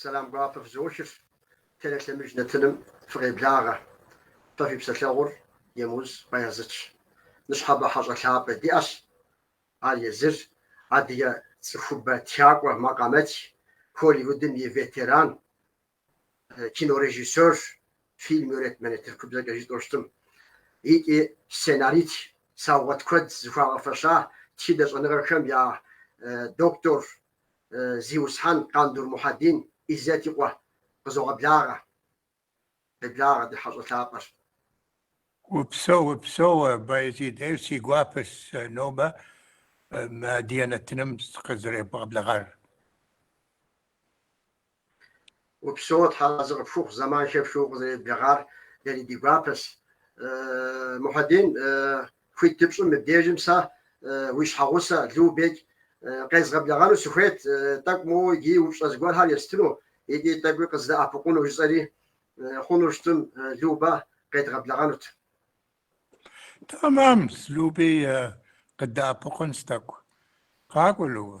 Сэлам гуапэ фызохыр, тэрэ лъэмыж нэтыным фыкъеблагъэ, фэ фи псэлъэгъур Емыуз Баязидщ. Ныщхьэбэ хьэщӏэ лъапӏэ диӏэщ, ар езыр, адыгэ цӏыхубэ тхакӏуэ макъамэтх, Холливудым и ветеран, кинорежиссёрщ, фильм йонетмени тыркубзэкӏэ житӏэу щытым, икӏи сценаристщ, саугъэт куэд зыхуагъэфэща тхыдэ щӏэныгъэхэм я докторщ, Зиусхьэн Къандур Мухьэдин Иззэт и къуэ къызогъэблагъэ, къеблагъэ ди хьэщӏэ лъапӏэр. Упсэу, упсэу, Баязид, ӏейуэ си гуапэщ сэ нобэ мы адыгэ нэтыным сыкъызэребгъэблэгъар. Упсэу, Тхьэразы къыпхухъу, зэман хэпхыу укъызэреблэгъар дэри ди гуапэс. Мухьэдин, хуит дыпщӏым мыбдежым сэ уи щхьэгъусэ Любэ къезгъэблэгъэну сыхуейт, тӏэкӏу моуэ иджыри упщӏэ зыгуэрхэр естыну икӏи тӏэкӏуи къыздэӏэпыкъуну, жысӏэри, хъуну щытым Любэ къедгъэблэгъэнут. Тэмам, Люби къыддэӏэпыкъунщ тӏэкӏу. Къакӏуэ, Любэ.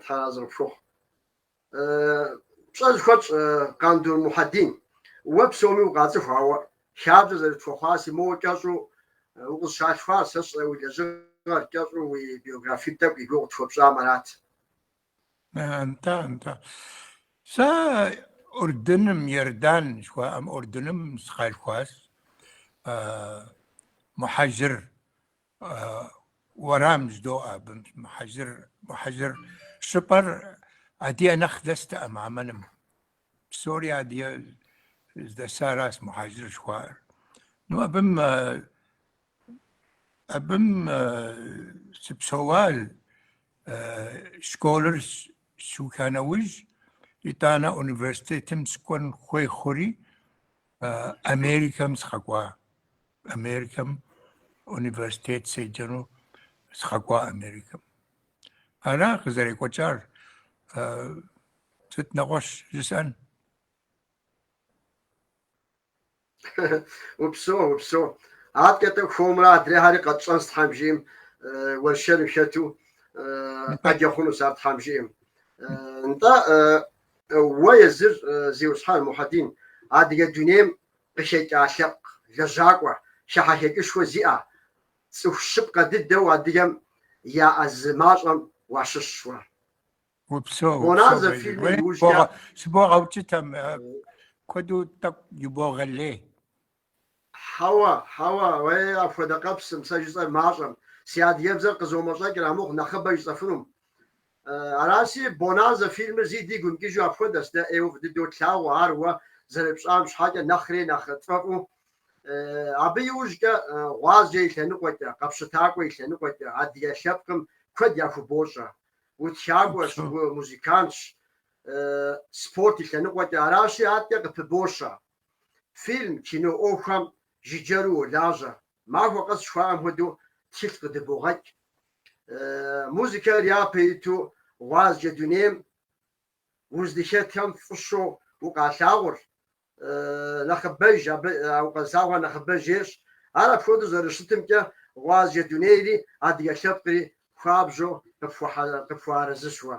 Тхьэразы къыпхухъу. Пщӏэ зыхуэтщӏ Къандур Мухьэдин, уэ псоми укъацӏыху, ауэ хабзэ зэрытхуэхъуаси моуэ кӏэщӏу укъызщалъхуар, сэ сщӏэрэ уи лэжьыгъэр кӏэщӏу уи биографие тӏэкӏу и гугъу къытхуэпщӏам арат. Нтӏэ, нтӏэ. Сэ Урдыным, Иордан жыхуаӏэм Урдыным сыкъалъхуащ, Мухьэжыр уэрам жыдоӏэ абы Мухьэжыр. Мухьэжыр щӏыпӏэр адыгэ нэхъ дэст Амманым. Псори адыгэ здэсаращ Мухьэжыр жыхуаӏэр. Ну, абым абым сыпсэуа школыр сыуха нэужь, итӏанэ университетым сыкӏуэн хуей хъури, Америкэм сыкъэкӏуа. Америкэм университет седжэну сыкъэкӏуа Америкэм. Ара къызэрекӏуэкӏар сыт нэгъуэщӏ жысӏэн? Упсо, упсо. Адэкӏэ-тӏэ хуэмурэ адрейхэри къэтщӏэнщ Тхьэм жиӏэм уэршэрым хэту къэтщӏэ хъунущ ар Тхьэм жиӏэм. Нтӏэ, Уэ езыр Зиусхьэн Мухьэдин, адыгэ дунейм къыхэкӏа лъэпкъ лэжьакӏуэ, хыхьэхэкӏышхуэ зиӏэ, цӏыху щыпкъэ дыдэу адыгэм яӏэ зы мащӏэм уащыщщ уэ. Упсэу, Бонанзэ упсэу, фильмым Бэллей. иужькӏэ. Сыбогъэукӏытэ, мы куэду тӏэкӏу ибогъэлей. Хьэуэ, хьэуэ, уей, апхуэдэ къэпсым, сэ жысӏэр мащӏэм, си адыгэбзэр къызомэщӏэкӏыр амыхъу нэхъыбэ жысӏэфынум. Аращи, Бонанзэ фильмыр зэи дигу имыкӏыжу апхуэдэщ, дэ ӏейуэ фӏы дыдэу тлъагъу ар уэ зэрыпщӏам щхьэкӏэ нэхъри нэхъ тфӏэфӏу. Абы иужькӏэ, гъуазджэ и лъэныкъуэкӏэ, къэпщытакӏуэ и лъэныкъуэкӏэ адыгэ лъэпкъым куэд яхубощӏэ. Утхакӏуэщ, умузыкантщ, спорт и лъэныкъуэкӏэ аращи, адэкӏэ къыпыбощэ. Фильм, кино ӏуэхухэм жыджэру уолажьэ, махуэ къэс жыхуаӏэм хуэдэу тхылъ къыдыбогъэкӏ. Музыкэр япэ иту гъуазджэ дунейм уздыхэтхэм фӏыщу укъалъагъур нэхъыбэж, абы укъэзылъагъур нэхъыбэж ещӏ. Ар апхуэдэу зэрыщытымкӏэ, гъуазджэ дунейри адыгэ лъэпкъри хуабжьу къыпхуэарэзыщ уэ.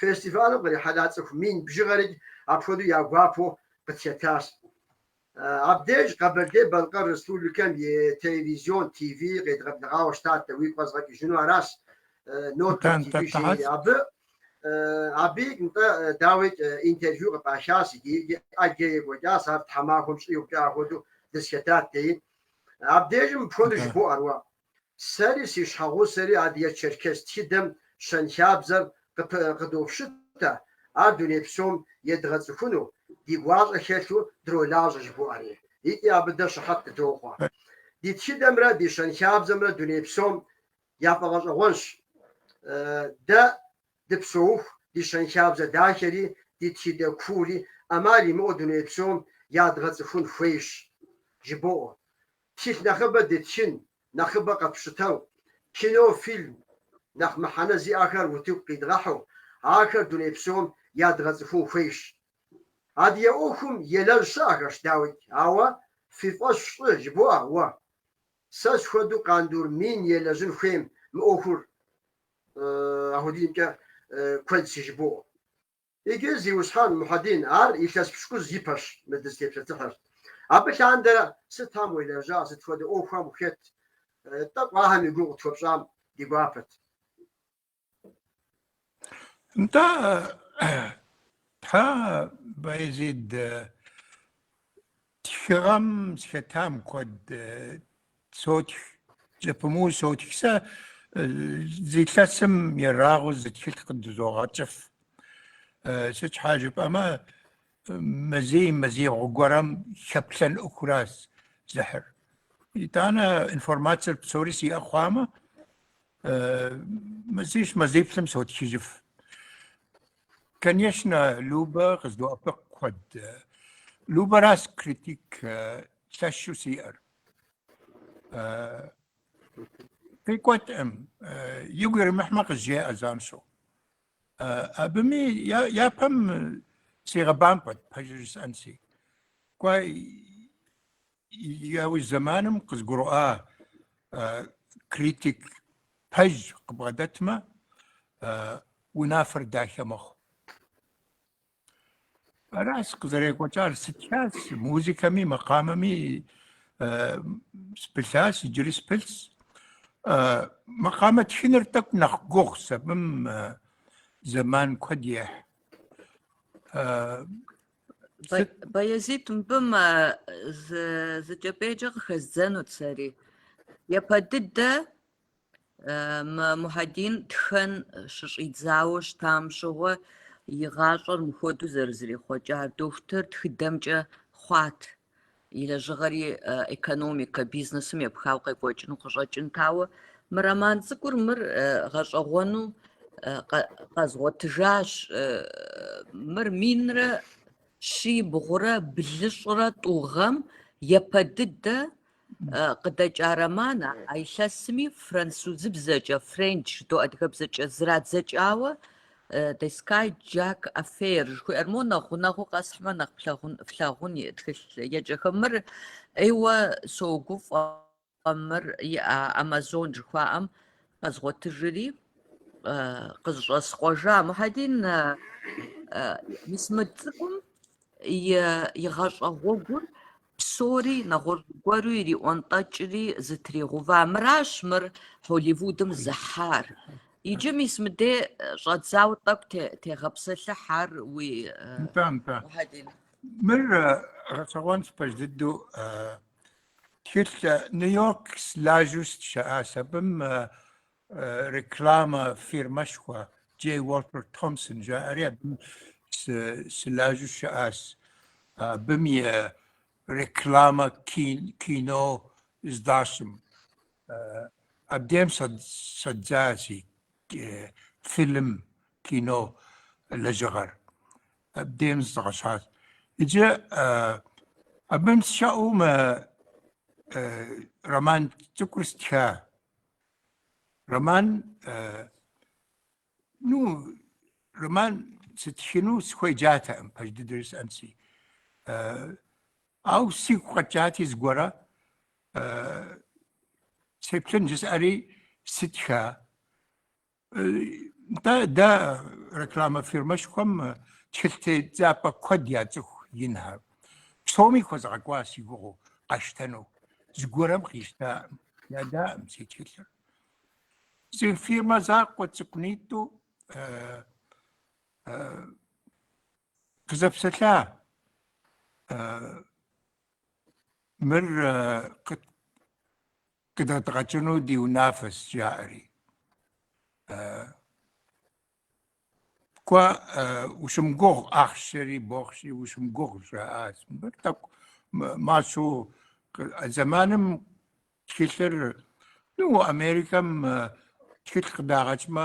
Фестивалым кърихьэлӏа цӏыху мин бжыгъэрикӏ апхуэдэу я гуапэу къытхэтащ. Абдеж Къэбэрдей-Балъкъэр Республикэм и телевизион, ТВ, къедгъэблэгъауэ щытати, уигу къэзгъэкӏыжыну аращ, НОТР ТВ жери абы. Абы икӏ нтӏэ, дауикӏ, интервью къыпӏахащ икӏи икӏи ӏэджэ екӏуэкӏащ, ар тхьэмахуэм щӏигъукӏэ ахуэдэу дызэхэтат, деи. Абдежым мыпхуэдэу жыбоӏэр уэ? Сэри си щхьэгъусэри адыгэ-черкес тхыдэм щэнхабзэр къыдопщытэ, ар дуней псом едгъэцӏыхуну ди гуащӏэ хэлъу дролажьэ жыбоӏэри, икӏи абы дэ щыхьэт дытохъуэ. Ди тхыдэмрэ ди щэнхабзэмрэ дуней псом я фӏэгъэщӏэгъуэнщ. Дэ дыпсэуху ди щэнхабзэ дахэри ди тхыдэ куури ӏэмал имыӏэу дуней псом ядгъэцӏыхун хуейщ, жыбоӏэ. Тхылъ нэхъыбэ дытхын, нэхъыбэ къэпщытэу, кино, фильм нэхъ мыхьэнэ зиӏэхэр утыку къидгъэхьу, ахэр дуней псом ядгъэцӏыхун хуейщ. Адыгэ ӏуэхум елэжь щыӏэхэщ, дауикӏ, ауэ фи фӏэщ щӏы, жыбоӏэ уэ. Сэ схуэдэу Къандур мин елэжьын хуейм мы ӏуэхур апхуэдизымкӏэ куэдщи, жыбоӏэ уэ. Иджы Зиусхьэн Мухьэдин, ар илъэс пщыкӏуз ипэщ, мы дызытепсэлъыхьыр. Абы лъандэрэ сытам уелэжьа, сыт хуэдэ ӏуэхухэм ухет, тӏэкӏу ахэм и гугъу къытхуэпщӏам ди гуапэт. Нтӏэ, Тхьэ, Баязид, Тхыгъэм сыхэтам куэд сотх, зэпымыу сотх. Сэ зы илъэсым ерагъыу зы тхылъ къыдызогъэкӏыф. Сыт щхьа жыпӏэмэ, мазий мазибгъу гуэрэм хэплъэн ӏуэхуращ зыхьыр. Итӏанэ информацэр псори сиӏэ хъуамэ, мазищ мазиплӏым сотхыжыф. Конечно, Любэ къыздоӏэпыкъу куэд. Любэращ критик лъэщу сиӏэр. Къикӏуэткъым, игу иримыхьмэ къызжеӏэ занщӏэу. Абыми япэм сигъэбампӏэт, пэжыр жысӏэнщи. Кӏуэ, Яужь зэманым къызгурыӏуа критик пэж къыбгъэдэтмэ, унафэр дахэ мэхъу. Аращ къызэрекӏуэкӏар, сытхащ музыкэми, макъамэми спылъащ, иджыри спылъщ. Макъамэ тхыныр тӏэкӏу нэхъ гугъущ, абым зэман куэд ехь. Баязит мыбым зы кӏэпӏейкӏэ къыхэздзэнут сэри. Япэ дыдэ Мухьэдин тхэн щыщӏидзауэ щытам щыгъуэ и гъащӏэр мыхуэдэу зэрызэрихъуэкӏар дохутыр тхыдэмкӏэ хъуат. и лэжьыгъэри экономикэ, бизнесым епхауэ къекӏуэкӏыну къыщӏэкӏынт. Ауэ мы роман цӏыкӏур мыр гъэщӏэгъуэну къэзгъуэтыжащ. Мыр минрэ щибгъурэ блыщӏрэ тӏу гъэм япэ дыдэ къыдэкӏа романыр а илъэсми французыбзэкӏэ, Френч жыдоӏэ адыгэбзэкӏэ зрадзэкӏауэ The Skyjack Affair жыхуиӏэр мо нэхъ гъунэгъуу къэсхьмэ нэхъ флъагъун и тхылъеджэхэм мыр ӏейуэ согуфӏэ мыр иӏа Amazon жыхуаӏэм къэзгъуэтыжри къызыщӏэскъуэжа Мухьэдин мис мы цӏыкӏум и и гъащӏэ гъуэгур псори нэгъуэщӏ гуэру ириӏуэнтӏэкӏри зытригъэува. Мыращ мыр Холливудым зыхьар. Иджы мис мыдей щӏэдзауэ тӏэкӏу дытегъэпсэлъыхь ар уи. Нтӏэ, нтӏэ. Мыр гъэщӏэгъуэнщ пэж дыдэу. Тхылъ Нью-Йорк сылажьэу сыщыӏащ. Абым Реклама фирмэшхуэ Джей Уолтер Томпсон жаӏэри абым сылажьэу щыӏащ. Абым и реклама кино здащӏым. Абдем щӏэздза си фильм кино лэжьыгъэр. Абдем зэзгъэщӏащ. Иджы абым сыщыӏэу мы роман цӏыкӏур стха. Роман, э, ну, роман сытхыну сыхуеджатэкъым, пэж дыдэ жысӏэнщи. Э, ауэ сигу къэкӏати зыгуэрэ, э, сеплъын жысӏэри сытха. Нтӏэ, дэ рекламэ фирмэшхуэм тхылъ тедзапӏэ куэд яцӏыху инхэр. Псоми хуэзгъэкӏуа си гугъэу къащтэну, зыгуэрэм къищтакъым, ядаӏым си тхылъыр. Зы фирмэ закъуэ цӏыкӏунитӏу къызэпсэлъа. Мыр Къыдэдгъэкӏыну ди унафэщ, жаӏэри. Кӏуэ, ущымыгугъ, ахъшэри бохъши, ущымыгугъ, жаӏащ. Мыр тӏэкӏу мащӏэу зэманым тхылъыр, ну, Америкэм тхылъ къыдагъэкӏмэ,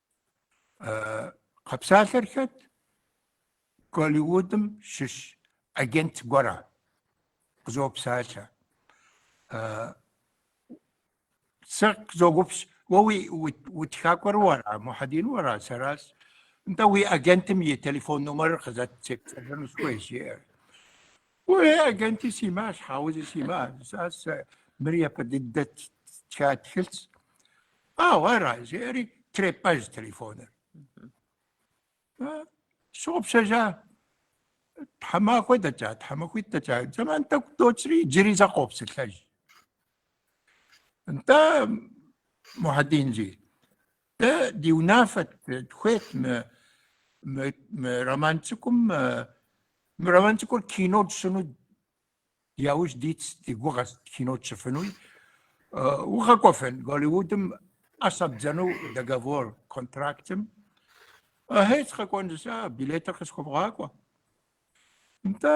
Къэпсалъэр хэт? Голливудым щыщ агент гуэрэ къызопсалъэ. Сэ къызоупщӏ, уэ уи утхакӏуэр уэра, Мухьэдин уэра, сэращ. Нтӏэ уи агентым и телефон номерыр къызэт, сепсэлъэну сыхуейщ, жиӏэр. Уей, агенти симыӏэ, щхьэ зыри симыӏэ, жысӏа, сэ мыр япэ дыдэ стха тхылъщ. Ау, ара, жери, трепӏэж телефоныр. Сщыгъупщэжа, тхьэмахуэ дэкӏа, тхьэмахуитӏ дэкӏа, зэман тӏэкӏу докӏри, джыри зэ къопсэлъэж. Нтӏэ, Мухьэдин жи, Дэ ди унафэт дыхуейт мы мы мы роман цӏыкӏум э, мы роман цӏыкӏур кино тщӏыну яужь дитщ ди гугъэщ кино тщӏыфынуи. Э, укъэкӏуэфын Голливудым ӏэ щӏэбдзыну договор контрактым. Ахьей, сыкъэкӏуэн жысӏа, билетыр къысхуэвгъакӏуэ. Нтӏэ,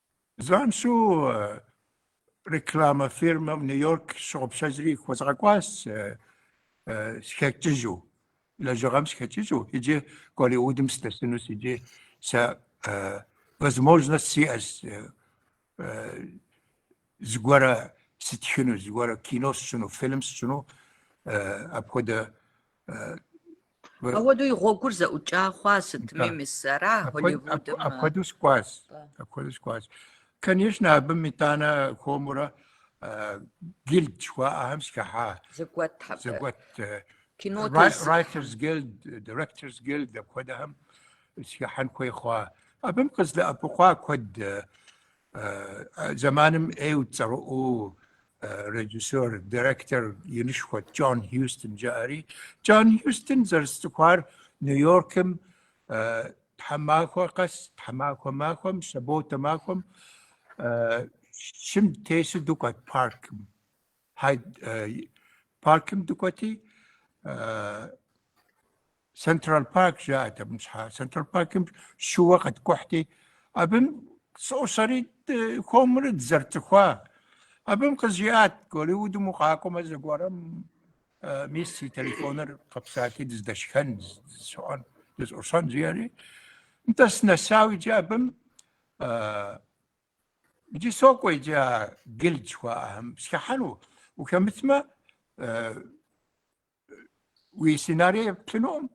Занщӏу рекламэ фирмэм Нью-Йорк щыгъупщэжри хуэзгъэкӏуащ схэкӏыжу, лэжьыгъэм схэкӏыжу, иджы Голливудым сдэсынущ, иджы сэ возможность сиӏэщ зыгуэрэ сытхыну, зыгуэрэ кино сщыну, фильм сщыну, апхуэдэ Апхуэдэу и гъуэгур зэӏукӏа хъуа сытми, мис ара Голливудым? Апхуэдэу сыкӏуащ. Апхуэдэу сыкӏуащ. Конечно, абым итӏанэ хуэмурэ гилд жыхуаӏэхэм сыхыхьа. Зэгуэт абы. Зэгуэт. Кино Writers Guild, Directors Guild апхуэдэхэм сыхыхьэн хуей хъуа. Абым къыздэӏэпыкъуа куэд зэманым ӏейу цӏэрыӏуэу режиссер, директор инышхуэт Джон Хьюстон жаӏэри, Джон Хьюстон зэрысцӏыхуар Нью-Йоркым тхьэмахуэ къэс, тхьэмахуэ махуэм, саботэ махуэм шым тесу дукӏуэт паркым. Паркым дукӏуэти, Централ парк жаӏэт абым щхьа. Централ паркым шууэ къэткӏухьти, абым сӏущӏэри хуэмурэ дызэрыцӏыхуа. Абым къызжиӏат, Голливудым укъакӏуэмэ зэгуэрым мис си телефоныр къэпсалъи дыздэшхэн, дызщыӏэн, дызӏущӏэн жиӏэри. Нтӏэ сынэсау иджы абым иджы сокӏуэ иджы а гилд жыхуаӏэхэм схыхьэну. Ухэмытмэ, уи сценарий еплъынукъым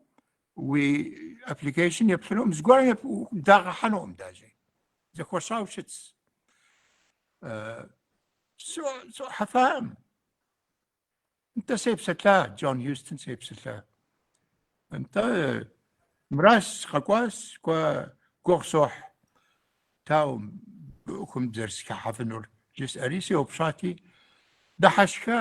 уи application еплъынукъым зыгуэрым дагъэхьэнукъым даже зэхуэщӏау щытс схыхьэфакъым нтӏэ сепсэлъа джон хьюстон сепсэлъа нтӏэ мра скъэкӏуас куэд гугъу сохь тау быӏухым зэрысхыхьэфынур жысӏэри сеупщӏати дыхьэшха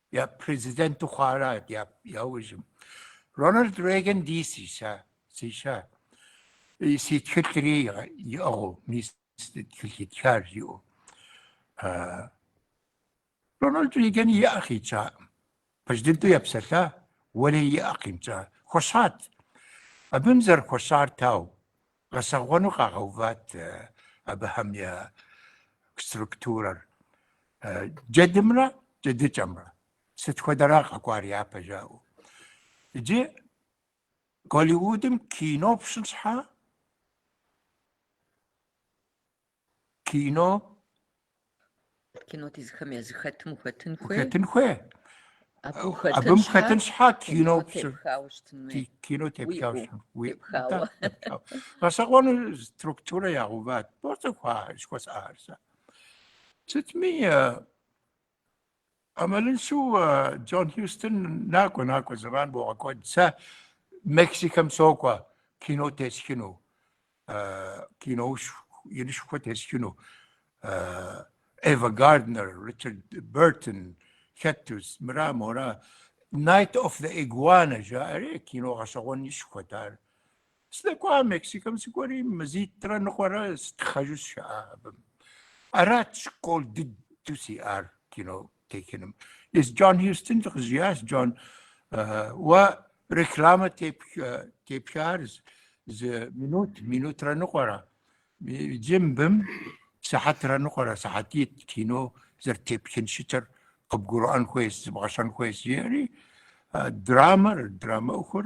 Я президенту хъуара я яужьым. Рональд Рейган дей сиша, сиша. Си тхылъри иӏыгъу, мис тхылъ итхар жиӏу. Рональд Рейган и ӏэ къикӏаӏым. Президенту епсэлъа, уэри и ӏэ къимыкӏа. Хуэщӏат. Абым зэрыхуэщӏар тау, Гъэщӏэгъуэну къагъэуват абыхэм я структурэр. Джэдымрэ джэдыкӏэмрэ сыт хуэдэра къэкӏуар япэ жаӏэу. Иджы Голливудым кино пщӏын щхьа кино кино тезыхэм я зыхэтым ухэтын хуей? Ухэтын хуей. Абым хэтын щхьэ кино кино тепхауэ щытын. Уи гъэщӏэгъуэну структурэ ягъэуват. Бо цӏыхуа щхуэсӏар сэ. Сытми ӏэмалыншэу Джон Хьюстон накӏуэ, накӏуэ, зэман богъэкӏуэд. Сэ Мексикэм сокӏуэ кино тесхыну, киноуэ инышхуэ тесхыну. Эва Гарднер, Ричард Бертон хэту, мыра мора. Найт оф зе игуана жаӏэри кино гъэщӏэгъуэнышхуэт ар. Сдэкӏуа Мексикэм сыкӏуэри, мазитӏрэ ныкъуэрэ стхъэжу сыщыӏа абым. Арат школ дыдэу сиӏар кино техыным. Езы Джон Хьюстон къызжиӏащ, Джон, уэ рекламэ тепхар зы минут, минутрэ ныкъуэрэ, иджы мыбым сыхьэтрэ ныкъуэрэ, сыхьэтитӏ кино зэрытепхын щытыр къыбгурыӏуэн хуейс, зыбгъэсэн хуейс, жиӏэри драмэр, драмэ ӏуэхур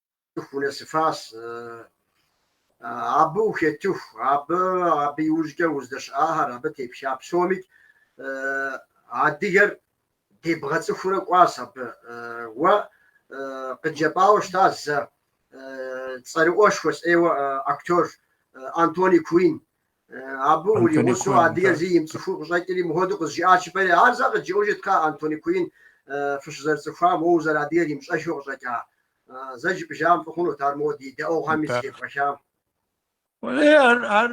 цӏыху унэсыфащ, абы ухэтыху, абы абы иужькӏэ уздэщыӏахэр, абы тепха псоми адыгэр дебгъэцӏыхурэ кӏуащ абы. Уэ къыджепӏауэ щыта зэ цӏэрыӏуэшхуэщ ӏейуэ актер Антони Куин Абы уримыщӏу адыгэр зэи имыцӏыхуу къыщӏэкӏри мыхуэду къызжиӏащ жыпӏэри. Ар зэ къыджеӏэжыт кхъа Антони Куин фыщызэрыцӏыхуам, уэ узэрыадыгэр имыщӏэххэу къыщӏэкӏа. Зэ жыпӏыжам фӏы хъунут ар моуэ ди едаӏуэхэми зытепӏэхам. Ар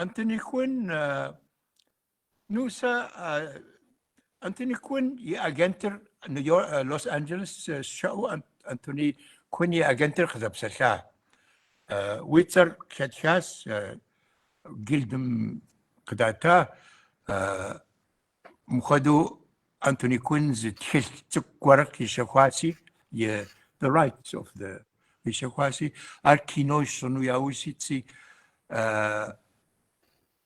Антони Куин Ну сэ Антони Куин и агентыр Лос-Анджелес щыӏэу Антони Куин и агентыр къызэпсэлъа. Уи цӏэр къыхэтхащ гильдым къыдата мыхуэду Антони Куин зы тхылъ цӏыкӏу гуэр къищэхуаси и The Rights of the къищэхуаси ар кино щӏыну яужь итси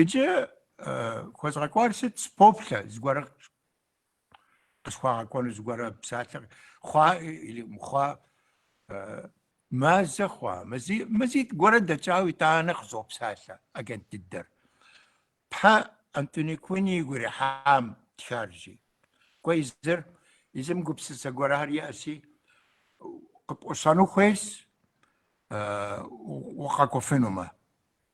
Иджы хуэзгъэкӏуар сыт? Сыпоплъэ зыгуэрэ къысхуагъэкӏуэну, зыгуэрэ псалъэ хъуа или хъуа, мазэ хъуа, мазий, мазитӏ гуэрэ дэкӏауэ итӏанэ къызопсалъэ агент дыдэр. Тхьэ Антони Куин игу ирихьа птхар жи. Ауэ езыр, езым гупсысэ гуэрхэр иӏэси, къыпӏущӏэну хуейс, укъэкӏуфынумэ.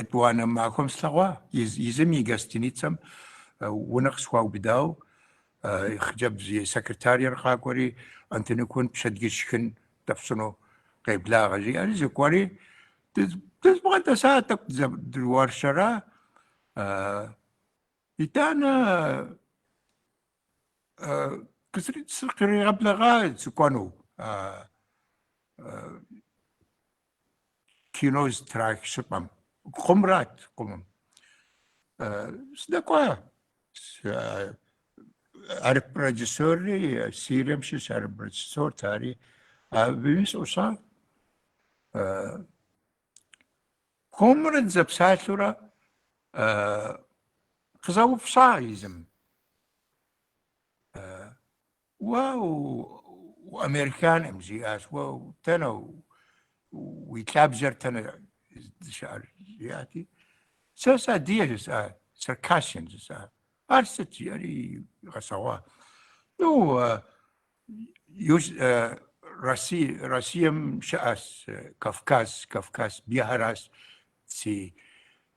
Етӏуанэ махуэм слъэгъуа, езым и гостиницэм унэ къысхуаубыдау, хъыджэбз и секретарыр къакӏуэри, Антони Куин пщэдджыжь шхын дэпщӏыну къеблагъэ, жиӏэри сыкӏуэри, дызбгъэдэса тӏэкӏу дызэдэуэршэра, итӏанэ сыкъригъэблэгъа сыкӏуэну, Кино зытрах щыпӏэм. Къумрат, къумым. Сыдэкӏуа. Ар продюсерри, Сирием щыщ ар продюсерт, ари абыми сыӏущӏа. Къомрэ дызэпсалъурэ къызэупщӏа езым. Уэ американэм жиӏащ, уэ дэнэ уи лъабжьэр дэнэ здэщыӏэр жиӏати, сэ сыадыгэ жысӏа, Circassian жысӏа. Ар сыт жиӏэри игъэщӏэгъуа. Ну, Россия, Россием щыӏэщ Кавказ, Кавказ бгыхэращ си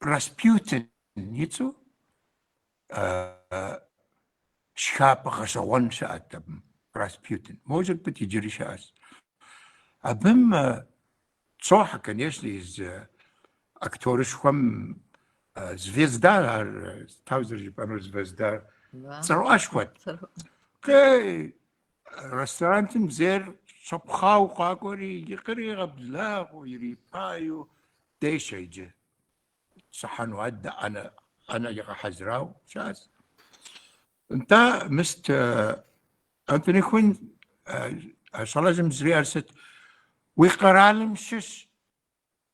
Распутин и цӏэу шхапӏэ гъэщӏэгъуэн щыӏэт абым, Распутин. Может быть, иджыри щыӏэщ. Абым щӏохьэ, конечно, езы актерышхуэм звезда ар дауэ зэрыжыпӏэнур звезда цӏэрыӏуэшхуэт. Ресторантыр зейр щӏэпхъуау къакӏуэри, къыригъэблагъэу, ирипагэу дешэ иджы. Сыхьэну адэ ӏэнэ ӏэнэ игъэхьэзырау щас. Нтӏэ мис Антони Куин щӏалэжьым жыриӏар сыт? Уи къэралым щыщ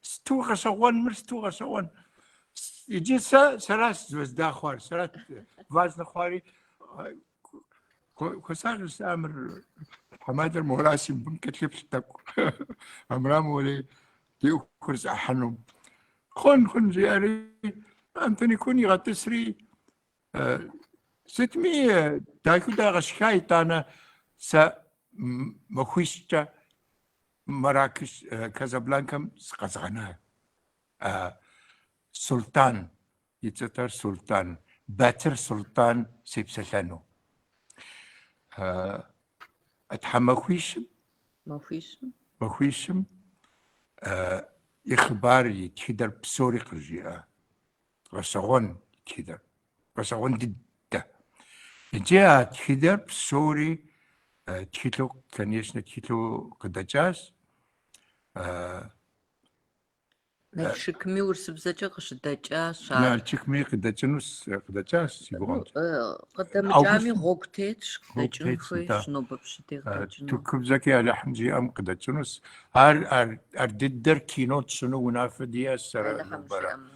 Сыту гъэщӏэгъуэн, мыр сыту гъэщӏэгъуэн. Иджы сэ сэращ звезда хъуар, сэрат важнэ хъуари. Хуэсакъ, жысӏа, мыр тхьэмадэр моращи абым кӏэлъыплъ тӏэкӏу. Армырам уэри ди ӏуэхур зэӏыхьэну. Хъун, хъун жиӏэри, Антони Куин игъэтӏысри, сытми дахыу дагъэшха итӏанэ сэ махуищкӏэ Маракеш, Казабланкэм сыкъэзгъэна Султӏан, и цӏэтэр Султӏан, Батыр Султӏан сепсэлъэну. Тхьэмахуищым? Махуищым. Махуищым и хъыбар, и тхыдэр псори къыжиӏэ. Гъэщэгъуэн тхыдэр. Гъэщэгъуэн дыдэ. Иджы а тхыдэр псори тхылъу, конечно, тхылъу къыдэкӏащ. Налшыкми урысыбзэкӏэ къыщыдэкӏащ. Налшыкми къыдэкӏынущ, къыдэкӏащ си гугъэмкӏэ. Къыдэмыкӏами гъуэгу тетщ, къыдэкӏын хуейщ нобэ пщыдей къыдэкӏыну. Тыркубзэкӏи Алыхьым жиӏэм къыдэкӏынущ. Ар ар дыдэр кино тщӏыну унафэ диӏэщ сэрэ нобэрэ.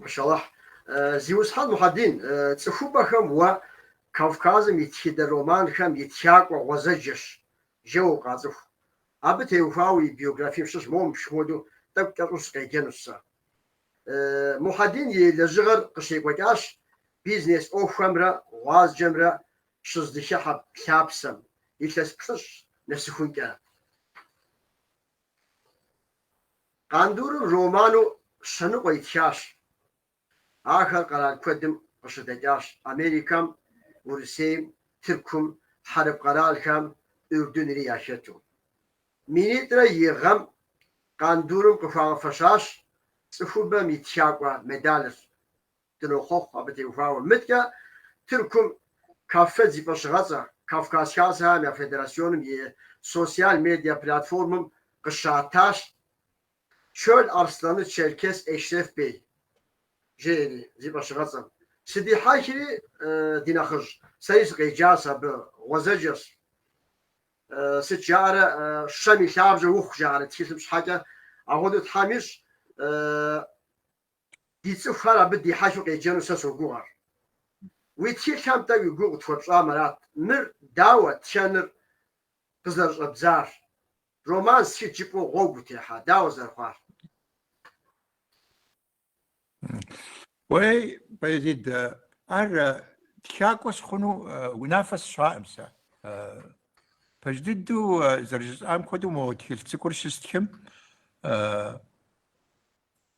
Машалахь. Зиусхьэн Мухьэдин, цӏыхубэхэм уэ Кавказым и тхыдэ романхэм и тхакӏуэ гъуэзэджэщ, жэуэ укъацӏыху. Абы теухуауэ и биографием щыщ моуэ мыпщхуэдэу тӏэкӏу кӏэщӏу сыкъеджэнущ сэ. Мухьэдин и лэжьыгъэр къыщекӏуэкӏащ бизнес ӏуэхухэмрэ гъуазджэмрэ щыздыхыхьэ лъапсэм, илъэс плӏыщӏ нэсыхункӏэ. Къандурым роману щэныкъуэ итхащ. Ахэр къэрал куэдым къыщыдэкӏащ, Америкэм, Урысейм, Тыркум, хьэрып къэралхэм, Урдынри яхэту. Минитӏрэ и гъэм Къандурым къыхуагъэфэщащ цӏыхубэм и тхакӏуэ медалыр. Дынохъуэхъу абы теухуауэ. Мыткӏэ Тыркум Каффед зи фӏэщыгъэцӏэ, Кавказ Хасэхэм я Федерасионым и социал медиа платформэм къыщатащ Чёл Арсланы Черкес Эшреф Бей, жери, зи фӏэщыгъэцӏэм. Сыдихьэхри, ди нэхъыжь, сэри сыкъеджащ абы, гъуэзэджэщ. Сыт жаӏэрэ, щэм и лъабжьэ ухъу, жаӏэрэ тхылъым щхьэкӏэ. Апхуэдэу Тхьэм ищӏ. Ди цӏыхухэр абы дихьэхыу къеджэну сэ согугъэр. Уи тхылъхэм-тӏэ уи гугъу къытхуэпщӏам арат мыр, дауэ, тхэныр къызэрыщӏэбдзар, роман стхынт жыпӏэу гъуэгу утехьа, дауэ зэрыхъуар? Уей, Баязид, ар тхакӏуэ сыхъуну унафэ сщӏаӏым сэ. Пэж дыдэу зэрыжысӏам хуэдэу мо тхылъ цӏыкӏур щыстхым,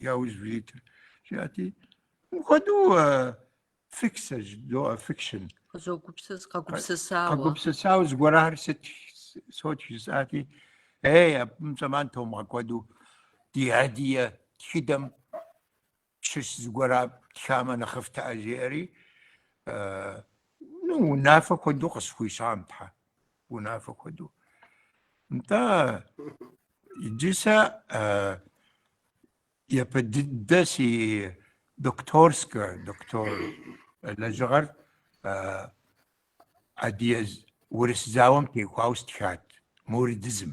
Яужь узитыр, жиӏати, мыпхуэдэу фикшн, жызоӏэ фикшн. Къызогупсыс, къэгупсысауэ. Къэгупсысауэ зыгуэрахэр сыт сотх жысӏати, ей, абым зэман томыгъэкӏуадэу ди адыгэ тхыдэм щыщ зыгуэр птхамэ нэхъыфӏтэ жиӏэри, ну, унафэ хуэдэу къысхуищӏам тхьэ. унафэ хуэдэу. Нтӏэ, иджы сэ япэ дыдэ си докторскэ, доктор лэжьыгъэр адыгэ-урыс зауэм теухуауэ стхат, муридизм.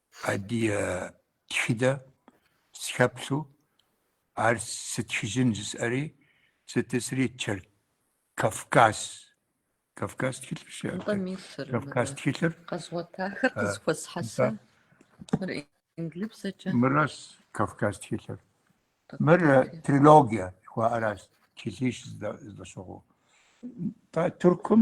Адыгэ тхыдэ сыхэплъу ар сытхыжын жысӏэри, сытысри чэр Кавказ. Кавказ тхылъыр щэ? Нтӏэ мисыр. Кавказ тхылъыр. Къэзгъуэтахэр къызэхуэсхьэса. Мыр инглыбзэкӏэ. Мыращ Кавказ тхылъыр. Мыр трилогия жыхуаӏэращ, тхылъищ здэщыгъуу. Туркум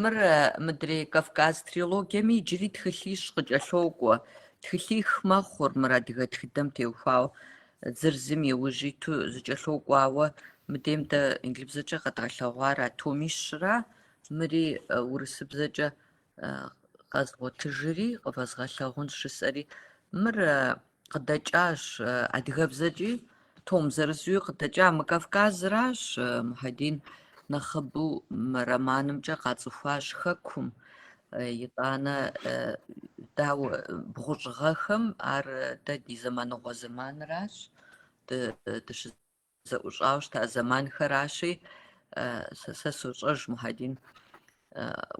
Мыр мыдрей Кавказ трилогием иджыри тхылъищ къыкӏэлъокӏуэ. Тхылъих мэхъур мыр адыгэ тхыдэм теухуауэ, зыр зым и ужь иту зэкӏэлъокӏуэ. Ауэ мыдейм дэ инглыбзэкӏэ къэдгъэлъэгъуар а томищра, мыри урысыбзэкӏэ къэзгъуэтыжри, къывэзгъэлъагъунщ жысӏэри, мыр къыдэкӏащ адыгэбзэкӏи, том зырызуи къыдэкӏа мы Кавказращ, Мухьэдин нэхъыбэу мы романымкӏэ къацӏыхуащ хэкум, итӏанэ дауэ бгъущӏ гъэхэм ар дэ ди зэманыгъуэ зэманращ, дыщы зэӏущӏауэ щыта зэманхэращи, сэ сощӏэж, Мухьэдин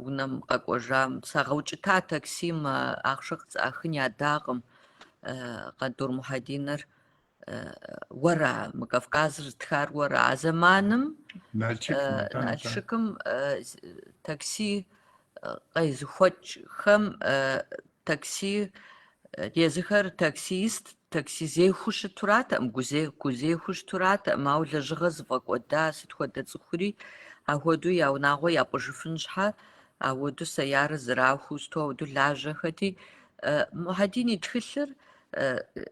унэм къэкӏуэжам сагъэукӏыта таксим ахъшэ къысӏахын ядакъым. Къандур Мухьэдиныр уэра, мы Кавказыр зытхар уэра? А зэманым Налшыкым такси къезыхуэкӏхэм такси Езыхэр таксист, такси зехуэу щытуратэкъым, гузе, гузехуэу щытуратэкъым, ауэ лэжьыгъэ зыфӏэкӏуэда сыт хуэдэ цӏыхури ахуэдэу я унагъуэ япӏыжыфын щхьэ, ауэду сэярэ зэрахуу сыту ауэду лажьэхэти, Мухьэдин и тхылъыр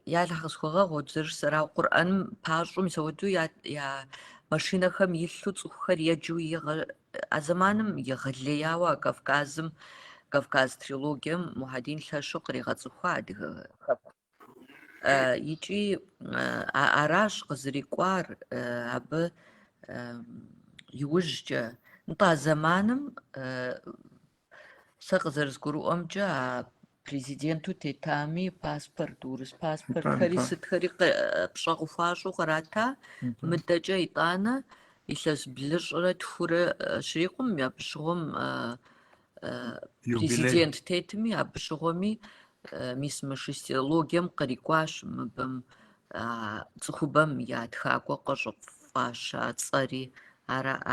я Аллахь къысхуэгъэгъу дзыр сэрау Къурӏэным пащӏу мис ауэду я, я машинэхэм илъу цӏыхухэр еджэу игъэ, А зэманым егъэлеяуэ а Кавказым, Кавказ трилогием Мухьэдин лъэщу къригъэцӏыхуа адыгэ хэкум. Икӏи аращ къызрикӏуар абы иужькӏэ. Нтӏэ, а зэманым Сэ къызэрызгурыӏуэмкӏэ а президенту тетами паспорт, урыс паспортхэри сытхэри пщӏэ къыхуащӏу кърата, мыдэкӏэ итӏанэ илъэс блыщӏрэ тхурэ щрикъум, абы щыгъуэм президент тетми, абы щыгъуэми мис мы шестилогием кърикӏуащ мыбэм а цӏыхубэм я тхакӏуэ къыщӏыфӏаща цӏэри.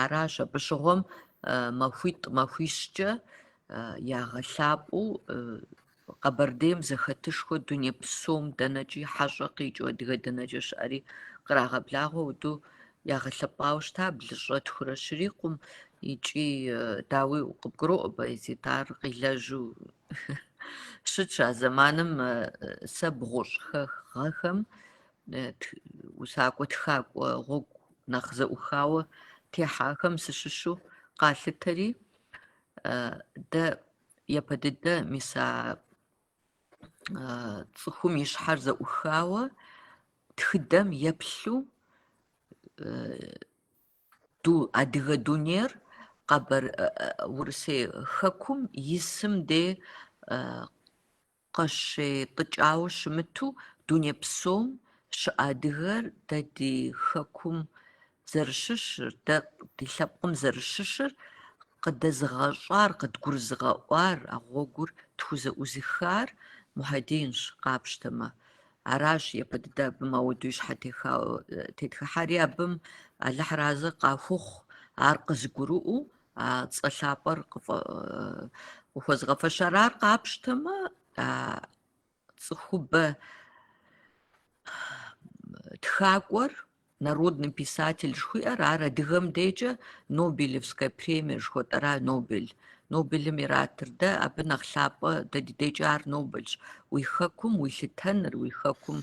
Аращ абы щыгъуэм махуитӏ-махуищкӏэ ягъэлъапӏэу Къэбэрдейм зэхэтышхуэ дуней псом дэнэкӏи хьэщӏэ къикӏыу адыгэ дэнэкӏэ щыӏэри кърагъэблагъэу ауэду ягъэлъэпӏауэ щыта блыщӏрэ тхурэ щрикъум икӏи дауи къыбгуроӏуэ Баязит ар къилэжьу Щытщ а зэманым сэ бгъущӏ гъэхэм усакӏуэ тхакӏуэ гъуэгу нэхъ зэӏухауэ техьахэм сыщыщу къалъытэри, дэ япэ дыдэ мис а цӏыхум и щхьэр зэӏухауэ тхыдэм еплъу Ду адыгэ дунейр Къэбэр Урысей хэкум исым де къыщетӏыкӏауэ щымыту, дуней псом щыӏэ адыгэр дэ ди хэкум зэрыщыщыр, дэ ди лъэпкъым зэрыщыщыр къыдэзыгъэщӏар, къыдгурызыгъэӏуар, а гъуэгур тхузэӏузыхар Мухьэдинщ, къапщтэмэ. Аращ япэ дыдэ абы мэуду и щхьэ техауэ тетхыхьэри абым Алыхьыр арэзы къахухъу ар къызыгурыӏуэу а цӏэ лъапӏэр къыхуэзыгъэфэщар. Ар къапщтэмэ, а цӏыхубэ тхакӏуэр Народный писатель жыхуиӏэр ар адыгэм декӏэ Нобелевскэ премие жыхуэтӏэра, Нобель. Нобелым иратыр дэ, абы нэхъ лъапӏэ дэ ди декӏэ ар Нобельщ. Уи хэкум уилъытэныр, уи хэкум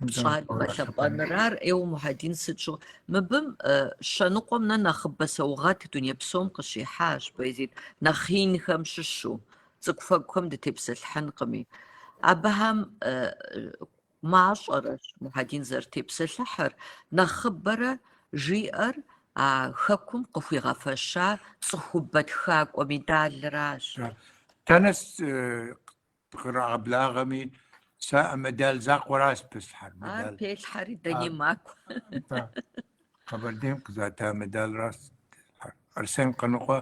пщӏар игъэлъэпӏэныр, ар ӏейуэ Мухьэдин сыт щыгъ-? Мыбым щэ ныкъуэм нэ нэхъыбэ саугъэт дуней псом къыщихьащ, Баязид, нэхъ инхэм щыщу, цӏыкӏуфэкӏухэм дытепсэлъыхьынкъыми. Абыхэм Мащӏэрэщ Мухьэдин зэрытепсэлъыхьыр нэхъыбэрэ жиӏэр а хэкум къыхуигъэфэща цӏыхубэ тхакӏуэ медалращ. Дэнэ къырагъэблагъэми, сэ а медаль закъуэращ пыслъхьэр. Ар пелъхьэри дэни макӏуэ. Къэбэрдейм къызата медалращ Арсен Къаныкъуэ.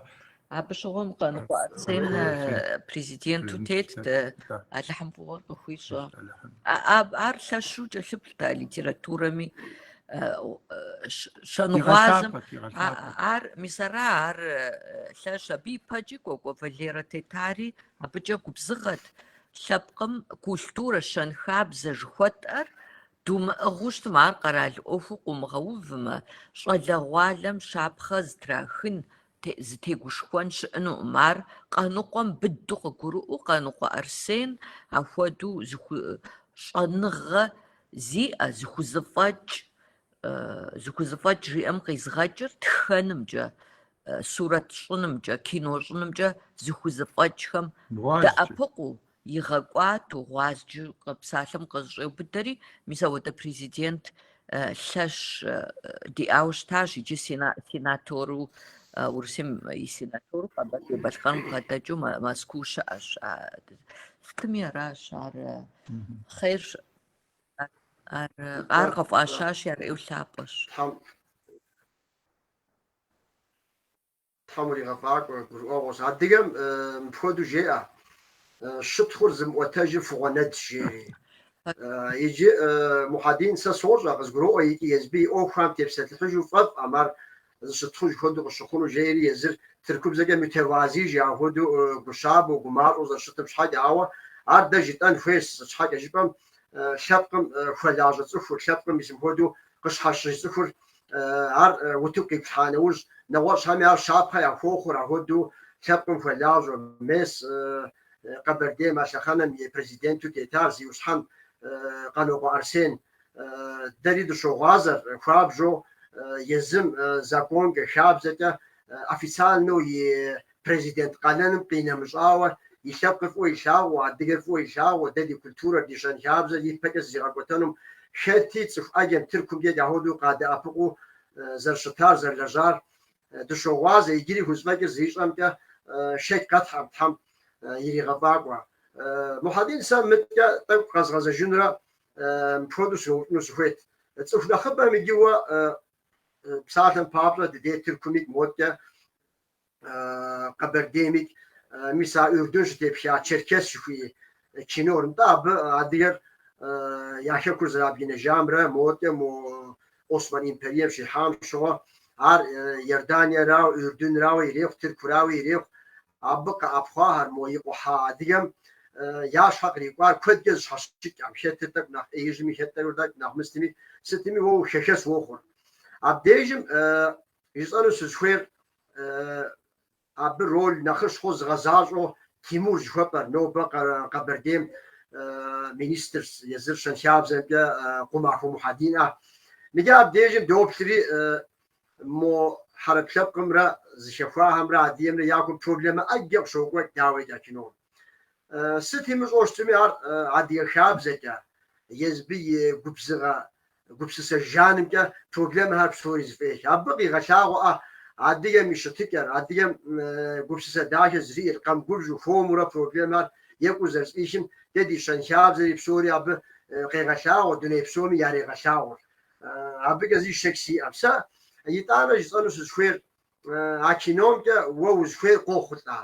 Абы щыгъуэм Къаныкъуэ Арсен президенту тетт, Алыхьым фӏыгъуэр къыхуищӏэ. Ар лъэщу кӏэлъыплът а литературэми, щэнгъуазэм. Ар мис ара ар лъэщ, абы ипэкӏи Кӏуэкӏуэ Валерэ тетари абыкӏэ губзыгъэт, лъэпкъым культурэ, щэнхабзэ жыхуэтӏэр Думыӏыгъыу щытмэ, ар къэрал ӏуэхуу къыумыгъэувмэ, щӏалэгъуалэм щапхъэ зытрахын, зытегушхуэн щыӏэнукъым. Ар Къаныкъуэм быдэу къыгурыӏуэу Къаныкъуэ Арсен апхуэдэу щӏэныгъэ зиӏэ, зыхузэфӏэкӏ, зыхузэфӏэкӏ жиӏэм къизгъэкӏыр тхэнымкӏэ, сурэт щӏынымкӏэ, кино щӏынымкӏэ зыхузэфӏэкӏхэм дэӏэпыкъуу, Игъэкӏуату, гъуазджэу псалъэм къызэщӏеубыдэри, мис ауэдэ президент лъэщ диӏауэ щытащ, иджы сенатору, Урысейм и сенатору Къэбэрдей-Балъкъэрым къыбгъэдэкӏыу Мэзкуу щыӏэщ. Сытми аращ ар хъер ар ар къыфӏащащи, ар ӏейуэ лъапӏэщ. Тхьэм уригъэфӏакӏуэ, гурыӏуэгъуэщ. Адыгэм мыпхуэдэу жеӏэ, щытхъур зымыӏуэтэжыр фыгъуэнэдщ, жери. Иджы, Мухьэдин, сэ сощӏэ, къызгуроӏуэ икӏи езби и ӏуэхухэм тепсэлъыхьыжу фӏэфӏӏэм, ар зыщытхъуж хуэдэу къыщыхъуну, жери езыр тыркубзэкӏэ мютевази жиӏа хуэдэу гущабэу, гумащӏэу зэрыщытым щхьэкӏэ. Ауэ ар дэ жытӏэн хуейщ, сыт щхьэкӏэ жыпӏэм, лъэпкъым хуэлажьэ цӏыхур, лъэпкъым мис мыхуэдэу къыщхьэщыж цӏыхур ар утыку къиплъхьа нэужь, нэгъуэщӏхэми ар щапхъэ яхуохъур, ахуэдэу лъэпкъым хуэлажьэу мес Къэбэрдей а лъэхъэнэм и президенту тетар зиусхьэн Къанокъуэ Арсен. Дэри дыщогъуазэр, хуабжьу езым законкӏэ, хабзэкӏэ официальнэу и Президент къалэным къинэмыщӏауэ, и лъэпкъыр фӏыуэ илъагъуу, адыгэр фӏыуэ илъагъуу, дэ ди культурэр, ди щэнхабзэр ипэкӏэ зэригъэкӏуэтэнум, хэти цӏыху ӏэджэм, тыркумкӏэ дэ хуэдэу къадэӏэпыкъуу зэрыщытар, зэрылэжьар дыщогъуазэ, иджыри хузэфӏэкӏыр зыищӏэмкӏэ шэч къытетхьэӏэм, Тхьэм иригъэфӏакӏуэ. Мухьэдин, сэ мыткӏэ тӏэкӏу къэзгъэзэжынурэ мыпхуэдэу сыноупщӏыну сыхуейт. Цӏыху нэхъыбэм иджы уэ псалъэм папщӏэ ди дей Тыркуми моткӏэ Къэбэрдейми, мис а Урдун щытепха Черкес жыхуиӏэ кинор, нтӏэ абы адыгэр я хэкур зэрабгынэжамрэ модэ мо Осман империем щихьам щыгъуэ, ар Иорданиерауэ, Урдунрауэ ирехъу, Тыркурауи ирехъу, абы къэӏэпхъуахэр мо икъухьа адыгэм я щхьэ кърикӏуар куэдкӏэ зэщхьэщыкӏӏэм, хэт тӏэкӏу нэхъ ӏеижьми, хэтӏэру тӏэкӏу нэхъ мыстми, сытми уэ хэхэс уохъур. Абдежым Жысӏэну сызыхуейр абы роль нэхъыщхьэу зыгъэзащӏэу Тимур жыхуэпӏэр, нобэ Къэбэрдейм министрщ езыр щэнхабзэмкӏэ Къумахуэ Мухьэдин а. Мыдэ абдежым доплъри, мо хьэрып лъэпкъымрэ зыхэхуахэмрэ адыгэмрэ я кум проблемэ ӏэджэ къыщокӏуэ дауикӏ а кином. Сыт имыщӏэу щытми ар адыгэ хабзэкӏэ, езбы и губзыгъэ Гупсысэ жанымкӏэ проблемэхэр псори зэфӏех. Абы къегъэлъагъуэ а адыгэм и щытыкӏэр, адыгэм гупсысэ дахэ зэриӏэр, къэмыгубжьу, хуэмурэ проблемэхэр екӏуу зэрызэфӏихым, дэ ди щэнхабзэри псори абы къегъэлъагъуэ, дуней псоми ярегъэлъагъуэ. Абыкӏэ зы шэч сиӏэм. Сэ итӏанэ жысӏэну сызыхуейр А киномкӏэ уэ узыхуей къохъулӏа?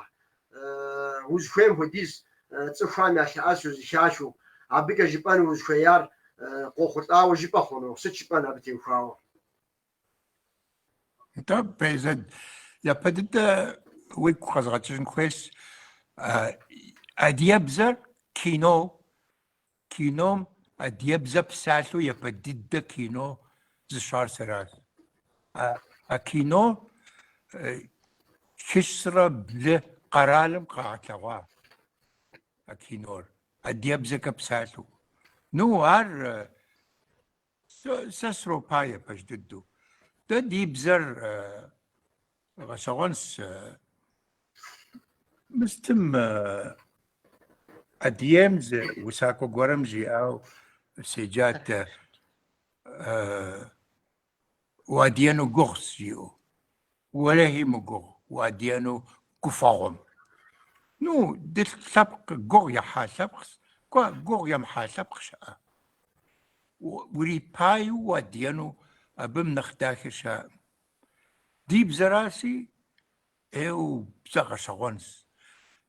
Узыхуейм хуэдизу цӏыхухэм ялъэӏэсу зэхахыу, абыкӏэ жыпӏэну узыхуеяр къохъулӏауэ жыпӏэ хъуну? Сыт жыпӏэн абы теухуауэ? Нтӏэ, Пейзэд, япэ дыдэ уигу къэзгъэкӏыжын хуейщ. Адыебзэр кино Кином адыебзэ псалъэу япэ дыдэ кино зыщӏар сэращ. А, а кино хыщӏрэ блы къэралым къагъэлъэгъуа а кинор адыебзэкӏэ псалъэу. Ну, ар Сэ сропае пэж дыдэу. Дэ ди бзэр гъэщӏэгъуэнщ мыстым Адыейм зы усакӏуэ гуэрым жиӏауэ седжат Уадыену гугъущ жиӏэу. Уэлэхьи мыгугъу уадыену, гуфӏэгъуэм. Ну, ди лъэпкъ гугъу ехьа лъэпкъщ, кӏуэ гугъу емыхьа лъэпкъ щыӏэ. Урипаеу уадыену абым нэхъ дахэ щыӏэкъым. Ди бзэращи, Ӏейуэ бзэ гъэщӏэгъуэнщ.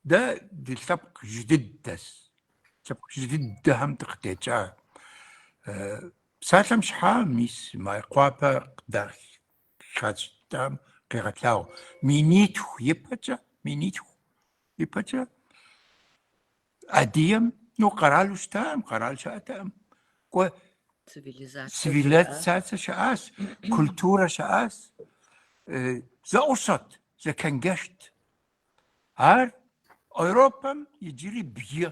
Дэ ди лъэпкъыжь дыдэщ. Лъэпкъыжь дыдэхэм дыкъытекӏа псалъэм щхьа мис Майкъуапэ къыдахащӏам къегъэлъагъуэ. Минитху ипэкӏэ, минитху ипэкӏэ Адыгэм ну къэралу щытаӏым, къэрал щыӏэтэӏым. Кӏуэ цивилизацэ щыӏащ, культурэ щыӏащ. Зэӏущӏэт, зэкэнгэщт. Ар Европэм иджыри бгы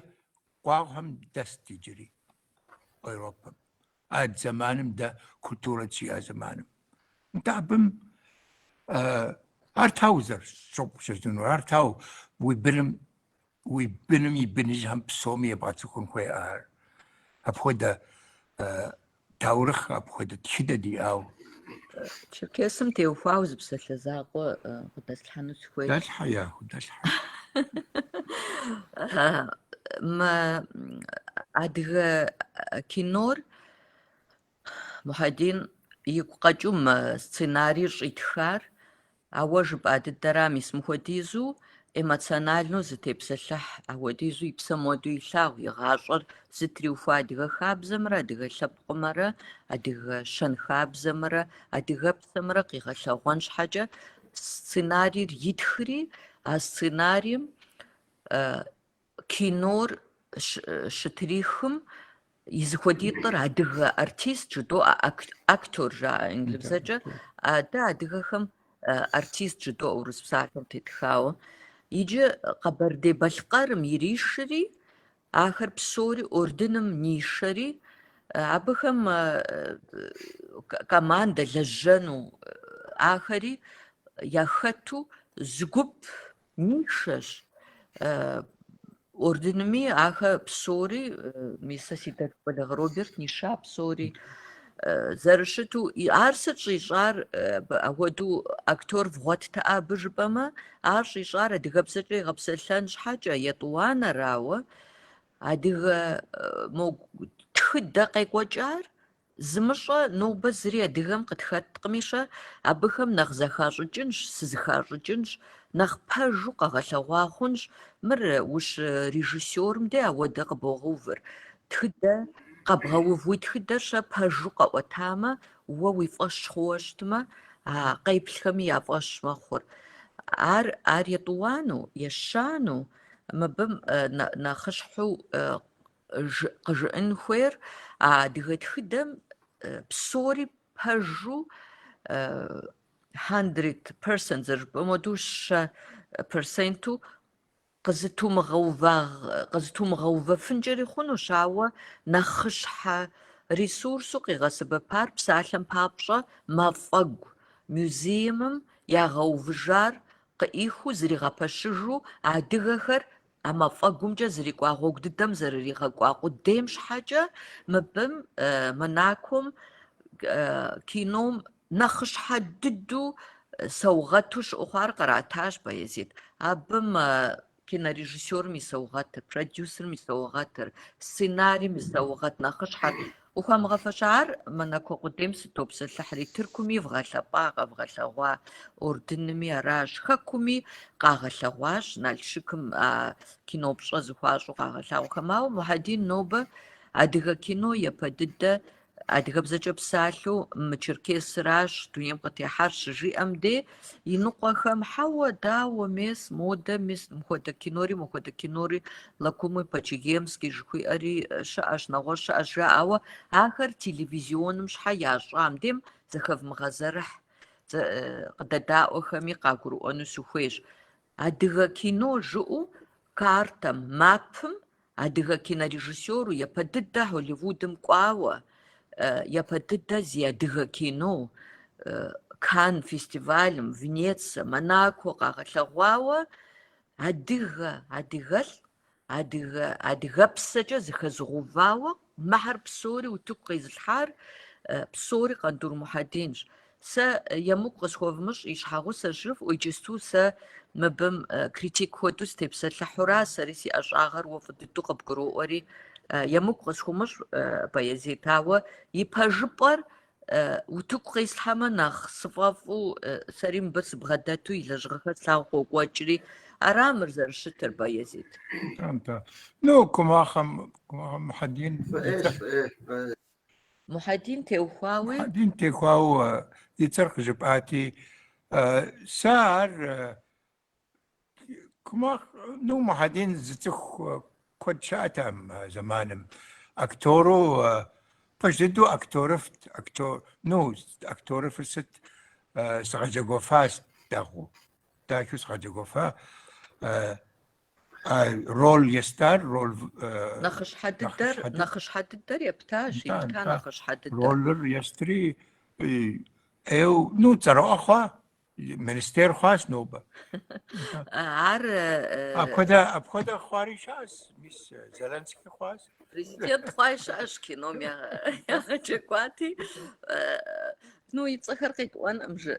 къуагъхэм дэст иджыри. Европэм. А зэманым дэ культурэ щыдиӏа зэманым. Нтӏэ абым ар дауэ зэрыпщыгъупщэжыну, ар дауэ уи быным уи быным и быныжьхэм псоми ебгъэцӏыхун хуей ар. Апхуэдэ таурыхъ, апхуэдэ тхыдэ диӏауэ. Черкесым теухуау зы псалъэ закъуэ къыдэслъхьэну сыхуейщ. Дэлъхьэ яху, дэлъхьэ. Мы адыгэ кинор Мухьэдин игу къэкӏыу мы сценарийр щӏитхар А уэ жыпӏа дыдэра мис мыхуэдизу эмоциональнэу зытепсэлъыхь, ахуэдизу и псэм хуэдэу илъагъу и гъащӏэр зытриухуа адыгэ хабзэмрэ адыгэ лъэпкъымрэ адыгэ щэнхабзэмрэ адыгэпсэмрэ къигъэлъэгъуэн щхьэкӏэ сценарийр итхри, а сценарием Кинор щытрихым и зэхуэдитӏыр адыгэ артист жыдоӏэ, актер жаӏэ инглыбзэкӏэ. Дэ адыгэхэм артист жыдоӏэ урыс псалъэм тетхауэ. Иджы Къэбэрдей-Балъкъэрым иришри, ахэр псори Ордыным нишэри, абыхэм командэ лэжьэну ахэри яхэту зы гуп Нишэщ. Ордынми ахэр псори, мисэ си дэ Кӏуэлэгъ Роберт ниша псори зэрыщыту ар сыт щӏищӏар апхуэдэу актер вгъуэттэкъэ абы жыпӏэмэ ар щӏищӏар адыгэбзэкӏэ игъэпсэлъэн щхьэкӏэ етӏуанэрауэ адыгэ тхыдэ къекӏуэкӏар Зымыщӏэ нобэ зыри адыгэм къытхэткъыми-щэ, абыхэм нэхъ зэхащӏыкӏынщ, сызэхащӏыкӏынщ, нэхъ пэжу къэгъэлъэгъуа хъунщ, мыр ущырежиссерым де ауэдэ къыбогъэувыр, тхыдэ къэбгъэув, уи тхыдэр-щэ пэжу къэӏуэтамэ, уэ уи фӏэщ хъууэ щытмэ, а къеплъхэми я фӏэщ мэхъур. Ар ар етӏуану, ещану, мыбы нэхъыщхьэу Къыжыӏын хуейр а адыгэ тхыдэм псори пэжу хьэндрэд персент зэрыжыпӏэм хуэдэу щэ персенту къызэтумыгъэувэфынкӏэри хъунущ, ауэ нэхъыщхьэ ресурсу къигъэсэбэпар псалъэм папщӏэ мафӏэгу музеимым ягъэувыжар къыӏихыу зригъэпэщыжу адыгэхэр А мафӏэгумкӏэ зрикӏуа гъуэгу дыдэм зэрыригъэкӏуа къудейм щхьэкӏэ мыбым Монаком кином нэхъыщхьэ дыдэу саугъэту щыӏэу хъуар къратащ Баязит. Абы мы кинорежиссерым и саугъэтыр, продюсерым и саугъэтыр, сценарийм и саугъэт нэхъыщхьэр Къыхуамыгъэфэща ар Монако къудейм сытопсэлъыхьри, Тыркуми вгъэлъэпӏа, къэвгъэлъэгъуа Ордынми аращ, Хэкуми къагъэлъэгъуащ, Налшыкым а кино пщӏэ зыхуащӏу къагъэлъагъухэм. Ауэ Мухьэдин нобэ адыгэ кино япэ дыдэ адыгэбзэкӏэ псалъэу мы Черкесыращ дунейм къытехьар щыжиӏэм де, Иныкъуэхэм, хьэуэ, дауэ, мес, модэ, мис, мыхуэдэ кинори, мыхуэдэ кинори, Лакумы по-чегемски жыхуиӏэри щыӏэщ, нэгъуэщӏ щыӏэщ жаӏа, ауэ ахэр телевизионым щхьэ ящӏа, мыдем зэхэвмыгъэзэрыхь къыдэдаӏуэхэми къагурыӏуэну сыхуейщ. Адыгэ кино жыӏэу картэм, мапым, адыгэ кинорежиссеру япэ дыдэ Холливудым кӏуауэ, япэ дыдэ зи адыгэ кино Кан фестивалым, Венеция, Монако къагъэлъэгъуауэ адыгэ, адыгэлӏ Адыгэпсэкӏэ зэхэзыгъэувауэ мыхэр псори утыку къезылъхьар псори Къандур Мухьэдинщ. Сэ емыкӏу къысхуэвмыщӏ и щхьэгъусэщ жыфӏэу, иджысту сэ мыбым критик хуэдэу сытепсэлъыхьура, сэри си ӏэщӏагъэр уэ фӏы дыдэу къыбгуроӏуэри, емыкӏу къысхумыщӏ, Баязит, ауэ и пэжыпӏэр Утыку къеслъхьэмэ нэхъ сыфӏэфӏу, сэри мыбы сыбгъэдэту и лэжьыгъэхэр слъагъуу къокӏуэкӏри, ара мыр зэрыщытыр, Баязит? Нтӏэ. Ну, Къумахуэ, Къумахуэ Мухьэдин. Мухьэдин теухуауи? Мухьэдин теухуауэ и цӏэр къыжыпӏати, сэ ар Ну, Мухьэдин зыцӏыху куэд щыӏэт а зэманым. Актёру, пэж дыдэу актёрыфӏт, актё, ну, актёрыфӏыр сыт, згъэджэгуфа дэгъуэу, дахэу згъэджэгуфа, а роль естар, роль в-, Нэхъыщхьэ дыдэр, Нэхъыщхьэ дыд- нэхъыщхьэ дыдэр ептащ, Нтӏэ, епта нтӏэ. нэхъыщхьэ дыдэр. Ролыр естри, ӏей, ӏейуэ, ну, цӏэрыӏуэ хъуа, Министер хъуащ нобэ. Ар апхуэдэ апхуэдэ хъуари щыӏэщ, мис Зеленский хъуащ. Президент хъуари щыӏэщ кином ягъэджэгуати. Ну, и цӏэхэр къитӏуэнкъым жы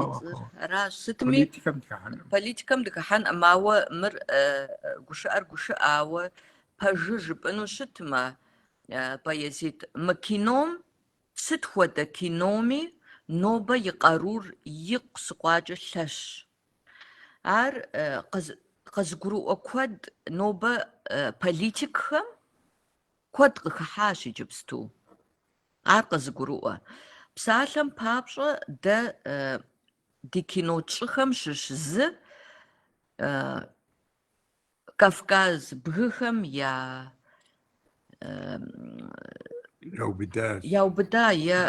и цӏэр. Аращ сытми политикэм дыхыхьэнкъым. Политикэм дыхыхьэнкъым, ауэ мыр гушыӏэр гушыӏэ, ауэ пэжу жыпӏэну щытмэ, Баязит, мы кином Сыт хуэдэ киноми нобэ и къарур икъусыкъуэкӏэ лъэщ. Ар къызыгурыӏуэ куэд нобэ политикхэм куэд къыхыхьащ иджыпсту. Ар къызыгурыӏуэ. Псалъэм папщӏэ, дэ ди кино тщӏыхэм щыщ зы Кавказ бгыхэм я яубыда е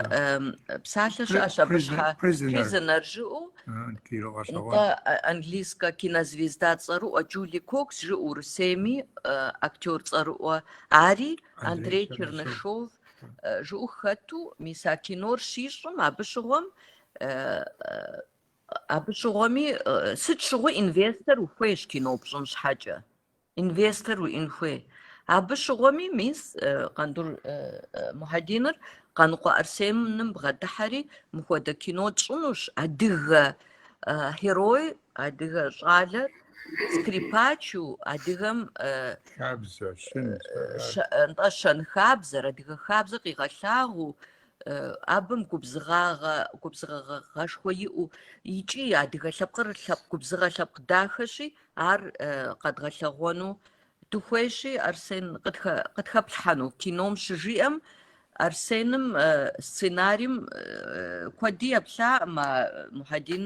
псалъэ щыӏэщ абы щхьэ Prisoner жыӏэу нтӏэ английскэ кинозвезда цӏэрыӏуэ Джули Кокс жыӏэу Урысейми актер цӏэрыӏуэ ари Андрей Чернышов жыӏэу хэту, мис а кинор щищӏым абы щыгъуэм Абы щыгъуэми, сыт щыгъуи инвестор ухуейщ кино пщӏын щхьэкӏэ. Инвестор уиӏын хуей. Абы щыгъуэми, мис, Къандур Мухьэдиныр Къаныкъуэ Арсеным бгъэдыхьэри, мыхуэдэ кино тщӏынущ, адыгэ герой, адыгэ щӏалэр скрипачу, адыгэм Хабзэ, щын, щэ- щэн-хабзэр, адыгэ хабзэр къигъэлъагъуэу, абым губзыгъагъэ, губзыгъагъэшхуэ иӏэу икӏи адыгэ лъэпкъыр лъэпкъ губзыгъэ лъэпкъ дахэщи, ар къэдгъэлъэгъуэну дыхуейщи, Арсен къытхэплъхьэну кином щыжиӏэм, Арсеным сценарием куэди еплъакъым а Мухьэдин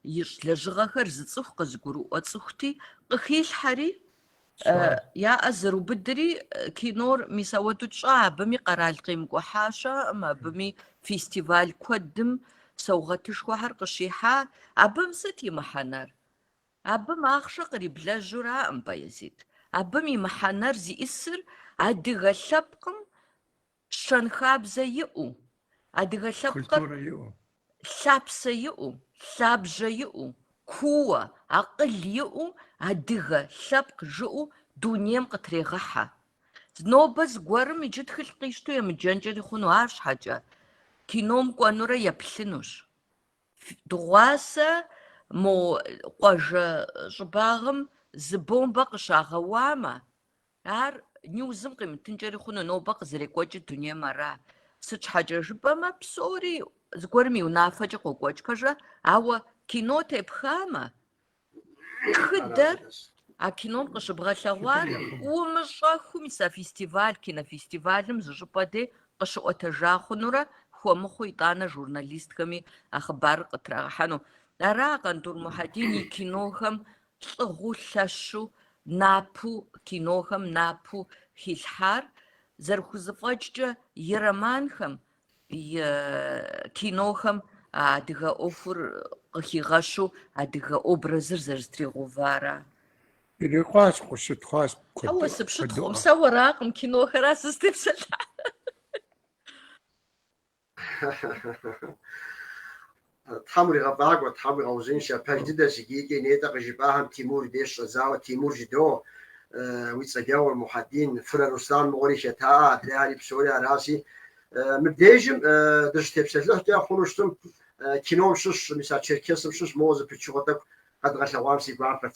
ищӏ лэжьыгъэхэр зыцӏыху къызыгурыӏуэ цӏыхути, къыхилъхьэри, Я ӏэ зэрыубыдри, кинор мис ауэдэу тщӏа, абыми къэрал къемыкӏухьа щыӏэкъым, абыми фестиваль куэдым саугъэтышхуэхэр къыщихьа, абым сыт и мыхьэнэр? Абым ахъшэ къриблэжьураӏым, Баязит. Абым и мыхьэнэр зиӏысыр адыгэ лъэпкъым щэнхабзэ иӏэу, адыгэ лъэпкъыр лъапсэ иӏэу, лъабжьэ иӏэу, кууэ, акъыл иӏэу адыгэ лъэпкъ жыӏэу дунейм къытрегъыхьэ. Нобэ зыгуэрым иджы тхылъ къищту емыджэнкӏэри хъуну, арщхьэкӏэ кином кӏуэнурэ еплъынущ. Дыгъуасэ мо къуажэ щӏыбагъым зы бомбэ къыщагъэуамэ, Ар Ньюзым къимытынкӏэри хъуну, нобэ къызэрекӏуэкӏыр дунейм ара? Сыт щхьэкӏэ жыпӏэмэ, псори зыгуэрым и унафэкӏэ къокӏуэкӏ, пэжрэ? Ауэ кино тепхамэ, тхыдэр а кином къыщыбгъэлъэгъуар умыщӏэху мис а фестиваль, кинофестивалым зы щӏыпӏэ дей къыщыӏуэтэжа хъунурэ, хуэмыхъуу итӏанэ журналистхэми а хъыбарыр къытрагъэхьэну. Ара Къандур Мухьэдин и кинохэм лӏыгъэу лъэщу напу кинохэм напу хилъхьар, зэрыхузыфӏэкӏкӏэ и романхэм, и кинохэм а адыгэ ӏуэхур къыхигъэщу адыгэ образыр зэрызэтригъэувара? Ирикъуащ, къыщытхъуащ. Ауэ сыпщытхъукъым, сэ уэракъым, кинохэращ сызытепсэлъыхьар. Тхьэм уригъэфӏакӏуэ, Тхьэм уигъэузыншэ, пэж дыдэщ, иджы икӏи нетӏэ къыжыпӏахэм Тимур деж щӏэдзауэ Тимур жыдо, уи цӏэджэгъур Мухьэдин, Фырэ Руслан мыгъуэри хэта, адрейхьэри псори аращи, мыбдежым дыщытепсэлъыхькӏэ хъуну щытым, кином щыщ, мис а Черкесым щыщ моуэ зы пычыгъуэ тӏэкӏу къэдгъэлъэгъуам си гуапэт.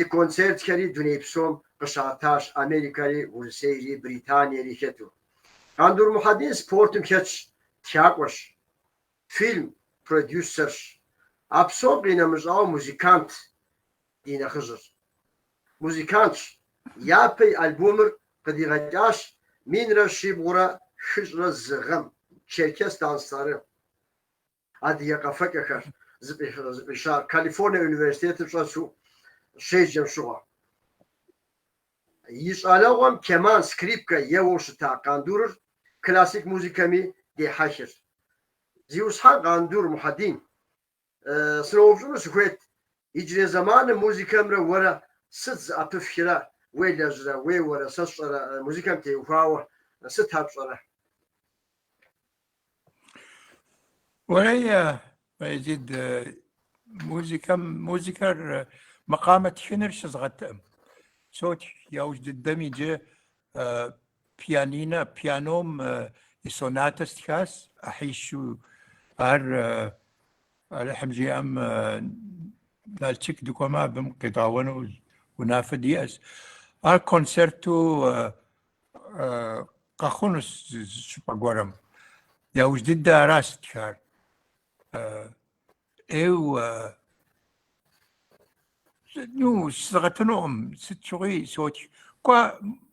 И концертхэри дуней псом къыщатащ Америкэри, Урысейри, Британиери хэту. Къандур Мухьэдин спортым хэтщ, тхакӏуэщ, фильм продюсерщ. А псом къинэмыщӏауэ музыкант ди нэхъыжьырщ. Музыкантщ, япэ и альбомыр къыдигъэкӏащ минрэ щибгъурэ хыщӏрэ зы гъэм, Черкес Данслары. Адыгэ къэфэкӏэхэр зыфӏища Калифорние университетым щӏэсу щеджэм щыгъуэ. И щӏалэгъуэм кеман, скрипкэ еуэу щыта Къандурыр классик музыкэми дехьэхырт. Зиусхьэн Къандур Мухьэдин, сыноупщӏыну сыхуейт, иджырей зэманым музыкэмрэ уэрэ сыт зыӏэпыфхрэ, уелэжьрэ, уеуэрэ, сэ сщӏэрэ, музыкэм теухуауэ сыт ар пщӏэрэ? Уэлей, Баязид, музыкэм, музыкэр макъамэ тхыныр щызгъэтаӏым. Сотх, яужь дыдэм иджы пианинэ, пианом и сонатэ стхащ, ӏыхьищу. Ар Алыхьым жиӏэм Налшык дыкӏуэмэ, абым къедгъэуэну унафэ диӏэщ. Ар концерту къэхъунущ щӏыпӏэ гуэрым. Яужь дыдэ аращ стхар. Эу ну щызгъэтынукъым сыт щыгъуи сотх. Кӏуэ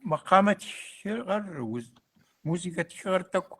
макъамэ тхыгъэр, музыкэ тхыгъэр тӏэкӏу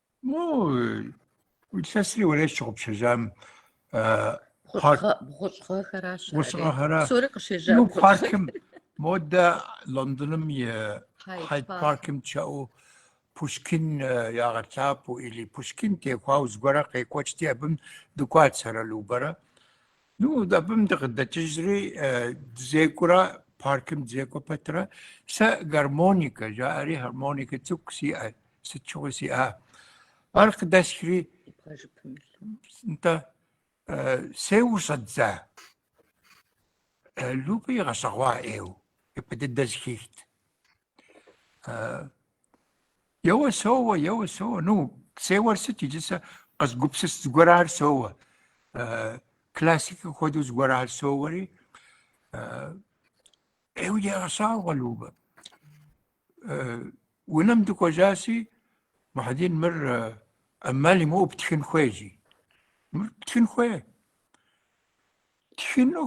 Ну, илъэсри уэлей сщыгъупщэжам бгъущӏгъэхэращ. Бгъущӏгъэхэрэ. Псори къыщежьа. Ну, паркым модэ Лондоным и Хайд паркым чэу Пушкин ягъэлъапӏэу или Пушкин теухуауэ зыгуэрэ къекӏуэкӏти абым дыкӏуат сэрэ Любэрэ. Ну, абым дыкъыдэкӏыжри дызекӏурэ паркым дызекӏуэ пэтрэ сэ гармоникэ жаӏэри гармоникэ цӏыкӏу сиӏэт. сыт щыгъуи сиӏа. Ар къыдэсхри нтӏэ сеуэу щӏэздза. Любэ игъэщӏэгъуа ӏейу, ипэ дыдэ зыхихт. Еуэ соуэ, еуэ соуэ, ну, сеуэр сыт иджы сэ къызгупсыс зыгуэрар соуэ. Классикэ хуэдэу зыгуэрар соуэри. Ӏейуэ егъэщӏагъуэ Любэ. Унэм дыкӏуэжащи, Мухьэдин мыр ӏэмал имыӏэу птхын хуей жи. Мыр птхын хуей. Тхыну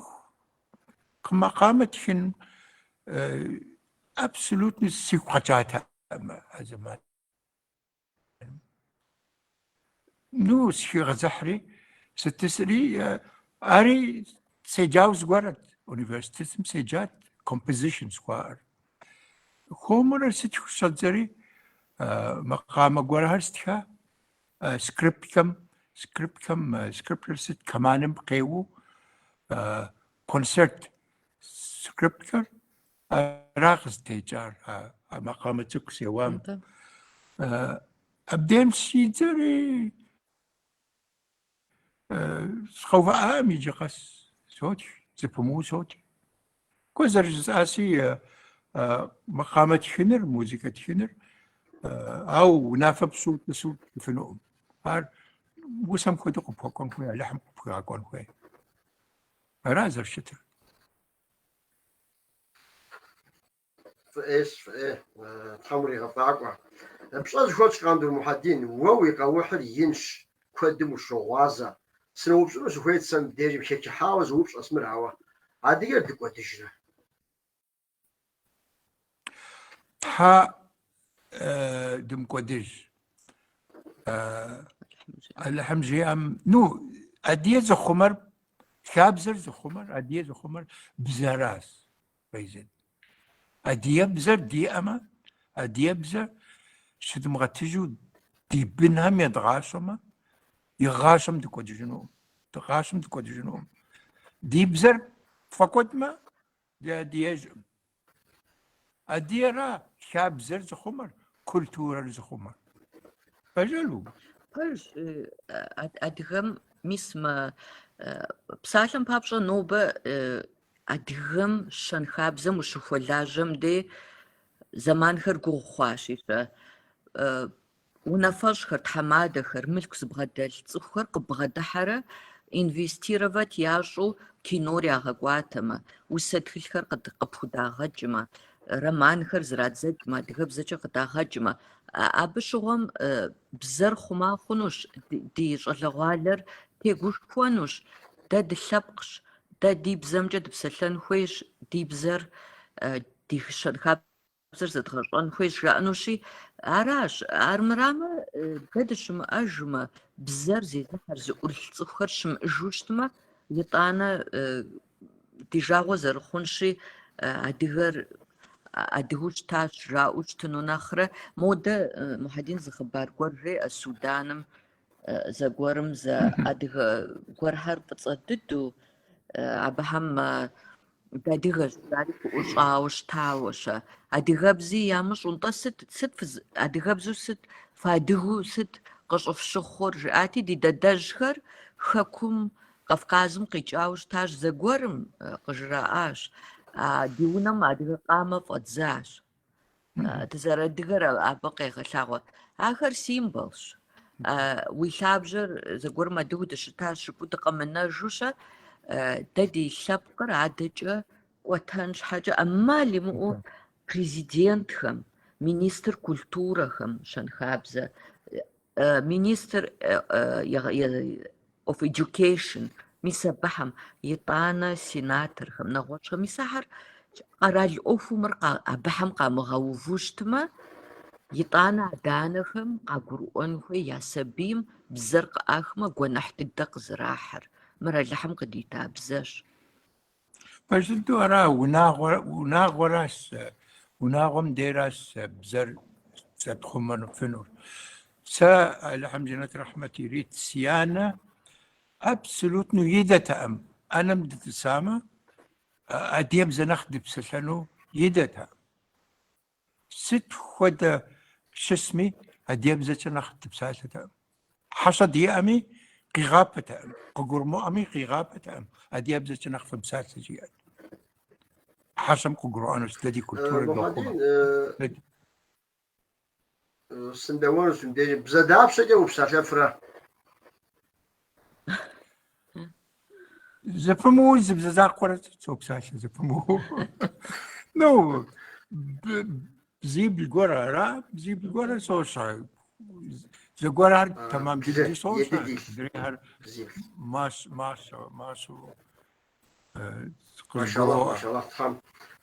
макъамэ тхын абсолютно сигу къэкӏатэкъым а зэман. Ну, сыхигъэзыхьри, сытӏысри, ари седжау зыгуэрат, университетым седжат, композишн жыхуаӏэр. Хуэмурэ стхыуэ щӏэздзэри, макъамэ гуэрхэр стха, скрипкэм, скрипкэм, скрипкэр сыт, кэманым къеуэу, концерт скрипкэр, Ара къызытекӏар а макъамэ цӏыкӏу сеуам. Абдем щӏэздзэри сыкъэувыӏакъым иджы къэс сотх, зыпымыу сотх. Куэ зэрыжысӏаси макъамэ тхыныр, музыкэ тхыныр, ау унафэ пщӏыуэ утӏысу птхыфынукъым. Ар усэм хуэдэу къыпхуэкӏуэн хуей, Алыхьым къыпхуигъэкӏуэн хуей. Ара зэрыщытыр. Фӏы ӏейщ, фӏы ӏей, Тхьэм уригъэфӏакӏуэ. Пщӏэ зыхуэтщӏ, Къандур Мухьэдин, уэ уи къэухьыр инщ, куэдым ущогъуазэ. Сыноупщӏыну сыхуейт сэ мыбдежым, хэчыхьауэ зы упщӏэщ мыр, ауэ адыгэр дыкӏуэдыжрэ? Тхьэ дымыкӏуэдыж. Алыхьым жиӏэм, ну, адыгэ зыхъумэр, хабзэр зыхъумэр, адыгэ зыхъумэр бзэращ, Фейзет. Адыгэбзэр диӏэмэ, адыгэбзэр щыдымыгъэтыжу ди бынхэм едгъащӏэмэ, игъащӏэм дыкӏуэдыжынукъым, ди гъащӏэм дыкӏуэдыжынукъым. Ди бзэр тфӏэкӏуэдмэ, дыадыгэжкъым. Адыгэра хабзэр зыхъумэр, культурэр зыхъумэр. Пэжэл убж. Пэж адыгэм мис мы псалъэм папщӏэ нобэ адыгэм щэнхабзэм ущыхуэлажьэм дей зэманхэр гугъу хъуащи, Унафэщӏхэр, тхьэмадэхэр, мылъку зыбгъэдэлъ цӏыхухэр къыббгъэдыхьэрэ инвестировать ящӏу кинор ягъэкӏуатэмэ, усэ тхылъхэр къыпхудагъэкӏмэ, романхэр зрадзэкӏмэ, адыгэбзэкӏэ къыдагъэкӏмэ, абы щыгъуэм бзэр хъума хъунущ, ди щӏалэгъуалэр тегушхуэнущ, дэ дылъэпкъщ, дэ ди бзэмкӏэ дыпсэлъэн хуейщ, ди бзэр ди щэнхабзэм бзэр зэдгъэщӏэн хуейщ жаӏэнущи, аращ, армырамэ, дэ дыщымыӏэжмэ, бзэр зезыхьэр зыӏурылъ цӏыхухэр щымыӏыжу щытмэ, итӏанэ ди жагъуэ зэрыхъунщи, адыгэр адыгэу щытащ жаӏэу щытыну нэхърэ. Модэ Мухьэдин зы хъыбар гуэр жеӏэ Суданым зэгуэрым зэ адыгэ гуэрхэр фӏыцӏэ дыдэу абыхэм Дыадыгэщ жари фыӏущӏауэ щытауэ-щэ? Адыгэбзи ямыщӏу, нтӏэ сыт, сыт фыз, адыгэбзу сыт, фыадыгу сыт къыщӏыфщыхъур? жиӏати, ди дадэжьхэр Хэкум, Кавказым къикӏауэ щытащ, зэгуэрым къыжраӏащ, а, ди унэм адыгэ къамэ фӏэдзащ. Дызэрыадыгэр абы къегъэлъагъуэ. Ахэр символщ. Уи лъабжьэр зэгуэрым адыгу дыщытащ жыпӏу дыкъэмынэжу-щэ, дэ ди лъэпкъыр адэкӏэ кӏуэтэн щхьэкӏэ ӏэмал имыӏэу президентхэм, министр культурэхэм щэнхабзэ Министр of Education, мис абыхэм, итӏанэ сенаторхэм, нэгъуэщӏхэм, мис ахэр къэрал ӏуэхуу мыр абыхэм къамыгъэуву щытмэ, итӏанэ адэ-анэхэм къагурыӏуэн хуей я сабийм бзэр къыӏахмэ, гуэныхь дыдэ къызэрахьыр, мыр Алыхьым къыдита бзэщ. Пэжщ, нтӏэ, ара унагъуэ унагъуэращ унагъуэм деращ бзэр щытхъумэныфынур. Сэ Алыхьым жэнэт рэхьмэт ирит си анэ абсолютно идэтэкъым ӏэнэм дытӏысамэ адыгэбзэ нэхъ дыпсэлъэну идэтэкъым. Сыт хуэдэ щысми, адыгэбзэкӏэ нэхъ дыпсалъэтэкъым. Хьэщӏэ диӏэми, къигъапэтэкъым, къыгурымыӏуэми, къигъапэтэкъым, адыгэбзэкӏэ нэхъ фымыпсалъэ жиӏэрт. Хьэщӏэм къыгурыӏуэнущ, дэ ди культурэр дохъумэ. Сынодэуэнущ мыбдежым. Бзэ дапщэкӏэ упсалъэфрэ? Зэпымыу зы бзэ закъуэр сопсалъэ зэпымыу. Ну, бзибл гуэр ара, бзибл гуэр сощӏэ. Зыгуэрхэр тэмэм дыдэу сощӏэ, адрейхэр мащӏэ, мащӏэ, мащӏэу. Машалла, машалла, тхьэм,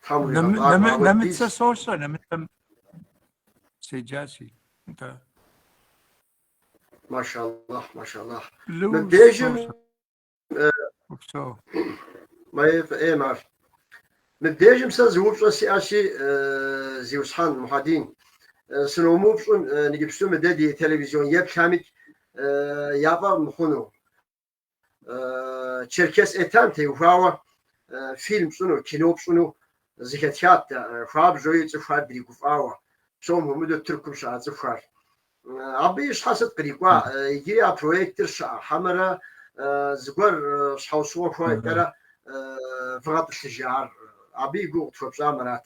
тхьэм уигъэбагъуэ. Нэмыцэ сощӏэ, нэмыцэм седжащи, да. Машаллах, машаллах. Мыбдежым Упсэу. Май фӏей мар. Мыбдежым сэ зы упщӏэ сиӏэщи, Зиусхьан Мухьэдин, сыномыупщӏмэ, иджыпсту мыдэ ди телевизион еплъамикӏ яфӏэмыхъуну. Черкес Этем теухуауэ фильм пщӏыну, кино пщӏыну зыхэтхат хуабжьуи цӏыхухэр дригуфӏауэ, псом хуэмыдэу Тыркум щыӏэ цӏыхухэр. Абы и щхьэ сыт кърикӏуа? Иджыри а проектыр щыӏэ хьэмэрэ зыгуэр щхьэусыгъуэ гуэркӏэрэ вгъэтӏылъыжа ар? Абы и гугъу къытхуэпщӏамэ арат.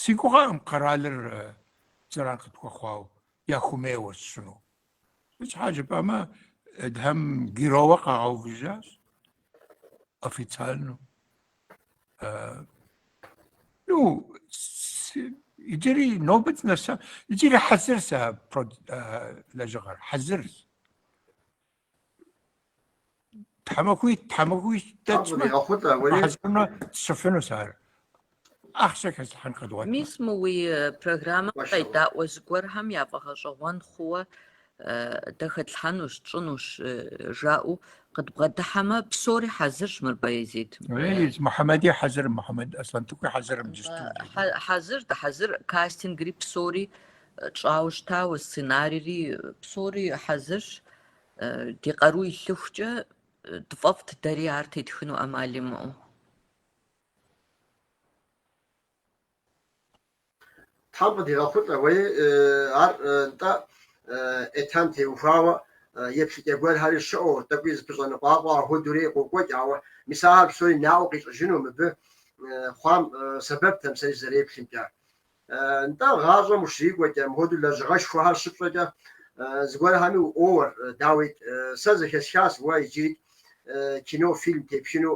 Си гугъэкъым къэралыр зэран къытхуэхъуауэ, яхуэмейуэ сщӏыну. Щхьэ жыпӏэмэ, Эдхэм геройуэ къагъэувыжащ официально. Ну, иджыри нобэ дынэса, иджыри хьэзыр сэ лэжьыгъэр, хьэзырщ. Тхьэмахуий, тхьэмахуий дэкӏмэ. Ахъутэ, ури. Хьэзыру сщӏыфынущ ар. Ахъшэ хэслъхьэн къэдгъуэт. Мис мы уи программэм къедаӏуэ зыгуэрхэм я фӏэгъэщӏэгъуэн хъууэ дэ хэтлъхьэнущ, тщӏынущ жаӏэу къыдбгъэдыхьэмэ, псори хьэзырщ мыр Баязитым. Ей, Мухьэмэди хьэзырым, Мухьэмэд Аслъэнтӏыхуи хьэзырым дыщту. Хьэзыр, дыхьэзыр, кастингри псори Тщӏауэ щытауэ сценарийри псори хьэзырщ. Ди къару илъыхукӏэ тфӏэфӏт дэри ар тетхыну ӏэмал имыӏэу. Тхьэм къыдигъэхъулӏэ уэи, ар нтӏэ Эдхэм теухуауэ, еплъыкӏэ гуэрхэри щыӏэу, тӏэкӏуи зыпыщӏэныкъуакъуэ ахуэдэурэ къокӏуэкӏ, ауэ мис ахэр псори наӏуэ къищӏыжыну мыбы хъуам сэбэпт а псэри зэреплъымкӏэ. Нтӏэ, гъащӏэм ущрикӏуэкӏэ, мыпхуэдэу лэжьыгъэшхуэхэр щыпщӏэкӏэ, зыгуэрхэми уӏуоуэр, дауикӏ, сэ зэхэсхащ уэ иджырикӏ кино, фильм тепхыну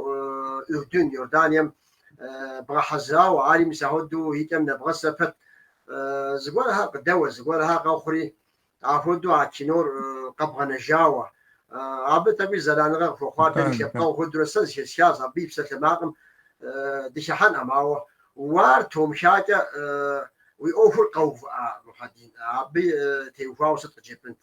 Урдын, Иорданием бгъэхьэзырауэ, ари мис ахуэдэу и кӏэм нэбгъэсэ пэт. Зыгуэрхэр къыдэуэ, зыгуэрхэр къэхъури, Апхуэдэу а кинор къэбгъэнэжауэ. Абы тӏэкӏуи зэраныгъэ къыхуэхъуар дэри лъэпкъэгъу хуэдурэ сэ зэхэсхащ, абы и псалъэмакъым дыхыхьэнӏым, ауэ уар тумхакӏэ уи ӏуэхур къэувыӏа, Мухьэдин, абы теухуауэ сыт къыджепӏэнт?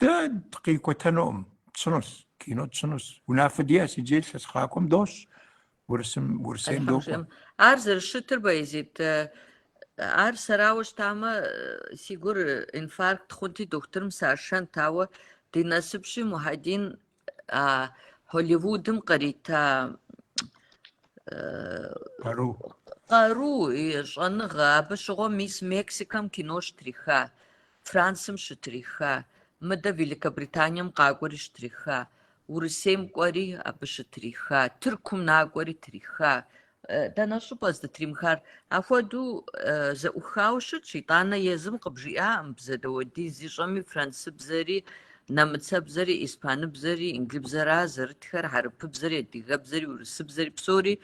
Дэ дыкъикӏуэтэнукъым, тщӏынущ, кино тщӏынущ. Унафэ диӏэс, иджы илъэс къакӏуэм дощӏ, Урысым, Урысейм докӏуэ. Алыхьым жиӏэм, ар зэрыщытыр, Баязит, ар сэрауэ щытамэ, си гур инфаркт хъунти, дохутырым сашэнт, ауэ ди насыпщи, Мухьэдин а Холливудым кърита къару къару щӏэныгъэ абы щыгъуэ мис Мексикэм кино щытриха, Францым щытриха, мыдэ Великобританием къакӏуэри щытриха, Урысейм кӏуэри абы щытриха, Тыркум накӏуэри триха, Дэнэ щӏыпӏэ здытримыхар? Ахуэдэу зэӏухауэ щытщ, итӏанэ езым къыбжиӏаӏым бзэ дауэдиз зищӏэми францыбзэри, нэмыцэбзэри, испаныбзэри, инглыбзэра зэрытхэр, хьэрыпыбзэри, адыгэбзэри, урысыбзэри псори.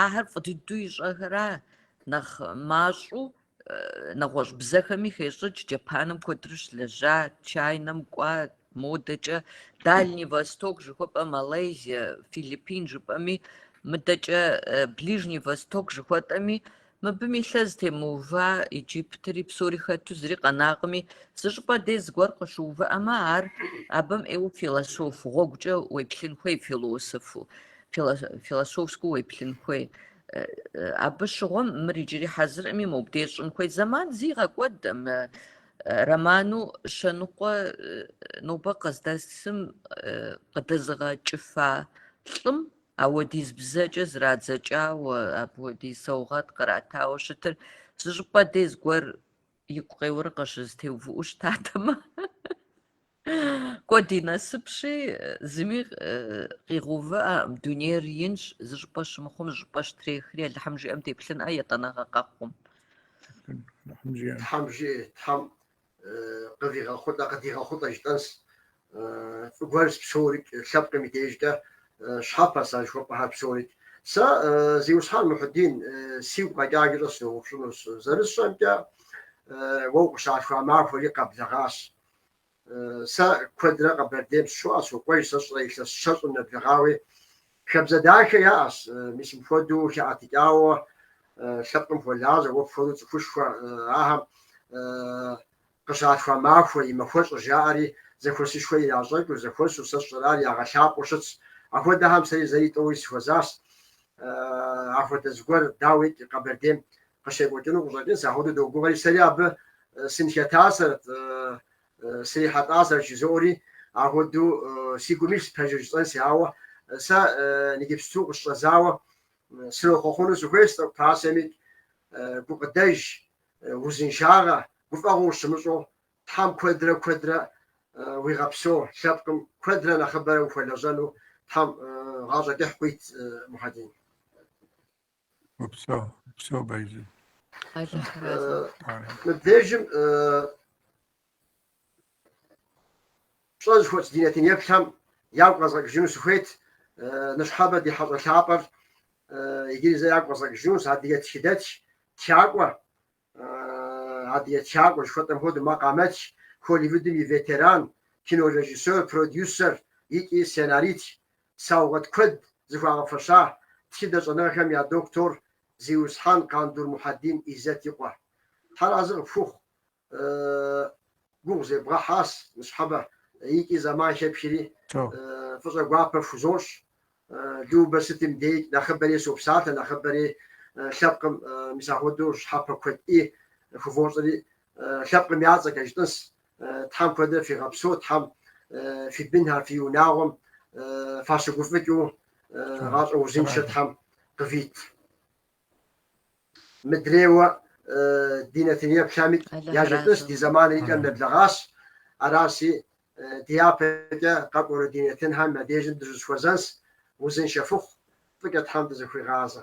Ахэр фӏы дыдэу ищӏэхэра нэхъ мащӏэу нэгъуэщӏ бзэхэми хещӏыкӏ, Джапаным куэдру щылэжьа, Чайнэм кӏуа, модэкӏэ Дальний Восток жыхуэпӏэ, Малайзия, Филиппин жыпӏэми, мыдэкӏэ Ближний Восток жыхуэтӏэми, мыбым и лъэ зытемыува Иджыптри псори хэту зыри къэнакъыми, зы щӏыпӏэ дей зыгуэр къыщыувыӏэмэ, ар абым ӏейуэ философ гъуэгукӏэ уеплъын хуей, философу, философскэу уеплъын хуей. Абы щыгъуэм мыр иджыри хьэзыркъыми, мобдеж щӏын хуей зэман зигъэкӏуэд мы роману щэ ныкъуэ нобэ къыздэсым къыдэзыгъэкӏыфа лӏым ауэдиз бзэкӏэ зрадзэкӏауэ, апхуэдиз саугъэт къратауэ щытыр зы щӏыпӏэ дей зыгуэр игу къеуэрэ къыщызэтеувыӏэу щытатэмэ. Кӏуэ ди насыпщи, зыми къигъэувыӏэкъым, дунейр инщ, зы щӏыпӏэ щымыхъум, зы щӏыпӏэ щытрехри, Алыхьым жиӏэм деплъынкъэ етӏанэгъэ къэхъум. Алыхьым жиӏэм. Тхьэм жиӏэ, Тхьэм къывигъэхъулӏэ, къыдигъэхъулӏэ жытӏэнс. Фӏы гуэрс псорикӏ, лъэпкъым и дежкӏэ щхьэпэс а жыхуэпӏэхэр псорикӏ. Сэ, Зиусхьэн Мухьэдин, сигу къэкӏаджэкӏэ сыноупщӏынущ, зэрысщӏэмкӏэ, уэ укъыщалъхуа махуэри къэблэгъащ. Сэ куэдрэ Къэбэрдейм сыщоӏэ, сокӏуэж сэ сщӏэрэ илъэс щэщӏым нэблэгъауи. Хабзэ дахэ яӏэщ, мис мыпхуэдэу хэӏэтыкӏауэ лъэпкъым хуэлажьэ, уэ пхуэдэу цӏыхушхуэ ахэм къыщалъхуа махуэ и махуэщӏыр жаӏэри, зэхуэсышхуэ иращӏэкӏыу, зэхуэсу сэ сщӏэрэ, ар ягъэлъапӏэу щытщ. Ахуэдэхэм сэри зэи тӏэуи сыхуэзащ. Ахуэдэ зыгуэр, дауикӏ, Къэбэрдейм Къыщекӏуэкӏыну къыщӏэкӏынс, ахуэду догугъэри, сэри абы сынхэтасэрт, срихьэлӏасэрт жызоӏэри, ахуэду си гум илъщ пэжыр жысӏэнси, ауэ сэ ниджыпсту къысщӏэзауэ сынохъуэхъуну сыхуейщ тӏэкӏу пасэми, гукъыдэж, узыншагъэ, гуфӏэгъуэ ущымыщӏэу, Тхьэм куэдрэ куэдрэ уигъэпсэу, лъэпкъым куэдрэ нэхъыбэрэ ухуэлэжьэну Тхьэм гъащӏэ кӏыхь къуит, Мухьэдин. Упсэу, упсэу Байзы. Мыбдежым пщӏэ зыхуэтщӏ ди нэтын еплъхэм ягу къэзгъэкӏыжыну сыхуейт ныщхьэбэ ди хьэщӏэ лъапӏэр иджыри зэ ягу къэзгъэкӏыжынущ, адыгэ тхыдэтх, тхакӏуэ. Адыгэ тхакӏуэ, жыхуэтӏэм хуэдэу, макъамэтх, Холливудым и ветеран кинорежиссёр, продюсер икӏи сценарист. Саугъэт куэд зыхуагъэфэща тхыдэ щӏэныгъэхэм я доктор Зиусхьэн Къандур Мухьэдин Иззэт и къуэ. Тхьэ разы къыпхухъу, гугъу зебгъэхьащ ныщхьэбэ икӏи зэман хепхри фӏыщӏэ гуапэ пхузощӏ. Любэ сытым деикӏ, нэхъыбэри сопсалъэ, нэхъыбэри лъэпкъым, мис ахуэдэу щхьэпэ куэд ӏи, хувощӏэри, лъэпкъым я цӏэкӏэ жытӏыс, Тхьэм куэдрэ фигъэпсэу, Тхьэм фи бынхэр, фи унагъуэм фащыгуфӏыкӏыу, гъащӏэ узыншэ Тхьэм къывит. Мыдрейуэ ди нэтыным еплъамикӏ яжетӏыс, ди зэманри и кӏэм нэблэгъащ. Араси, ди япэкӏэ къэкӏуэну ди нэтынхэм я дежым дыщызэхуэзэнс, узыншэ фыхъу, фӏыкӏэ Тхьэм дызэхуигъазэ.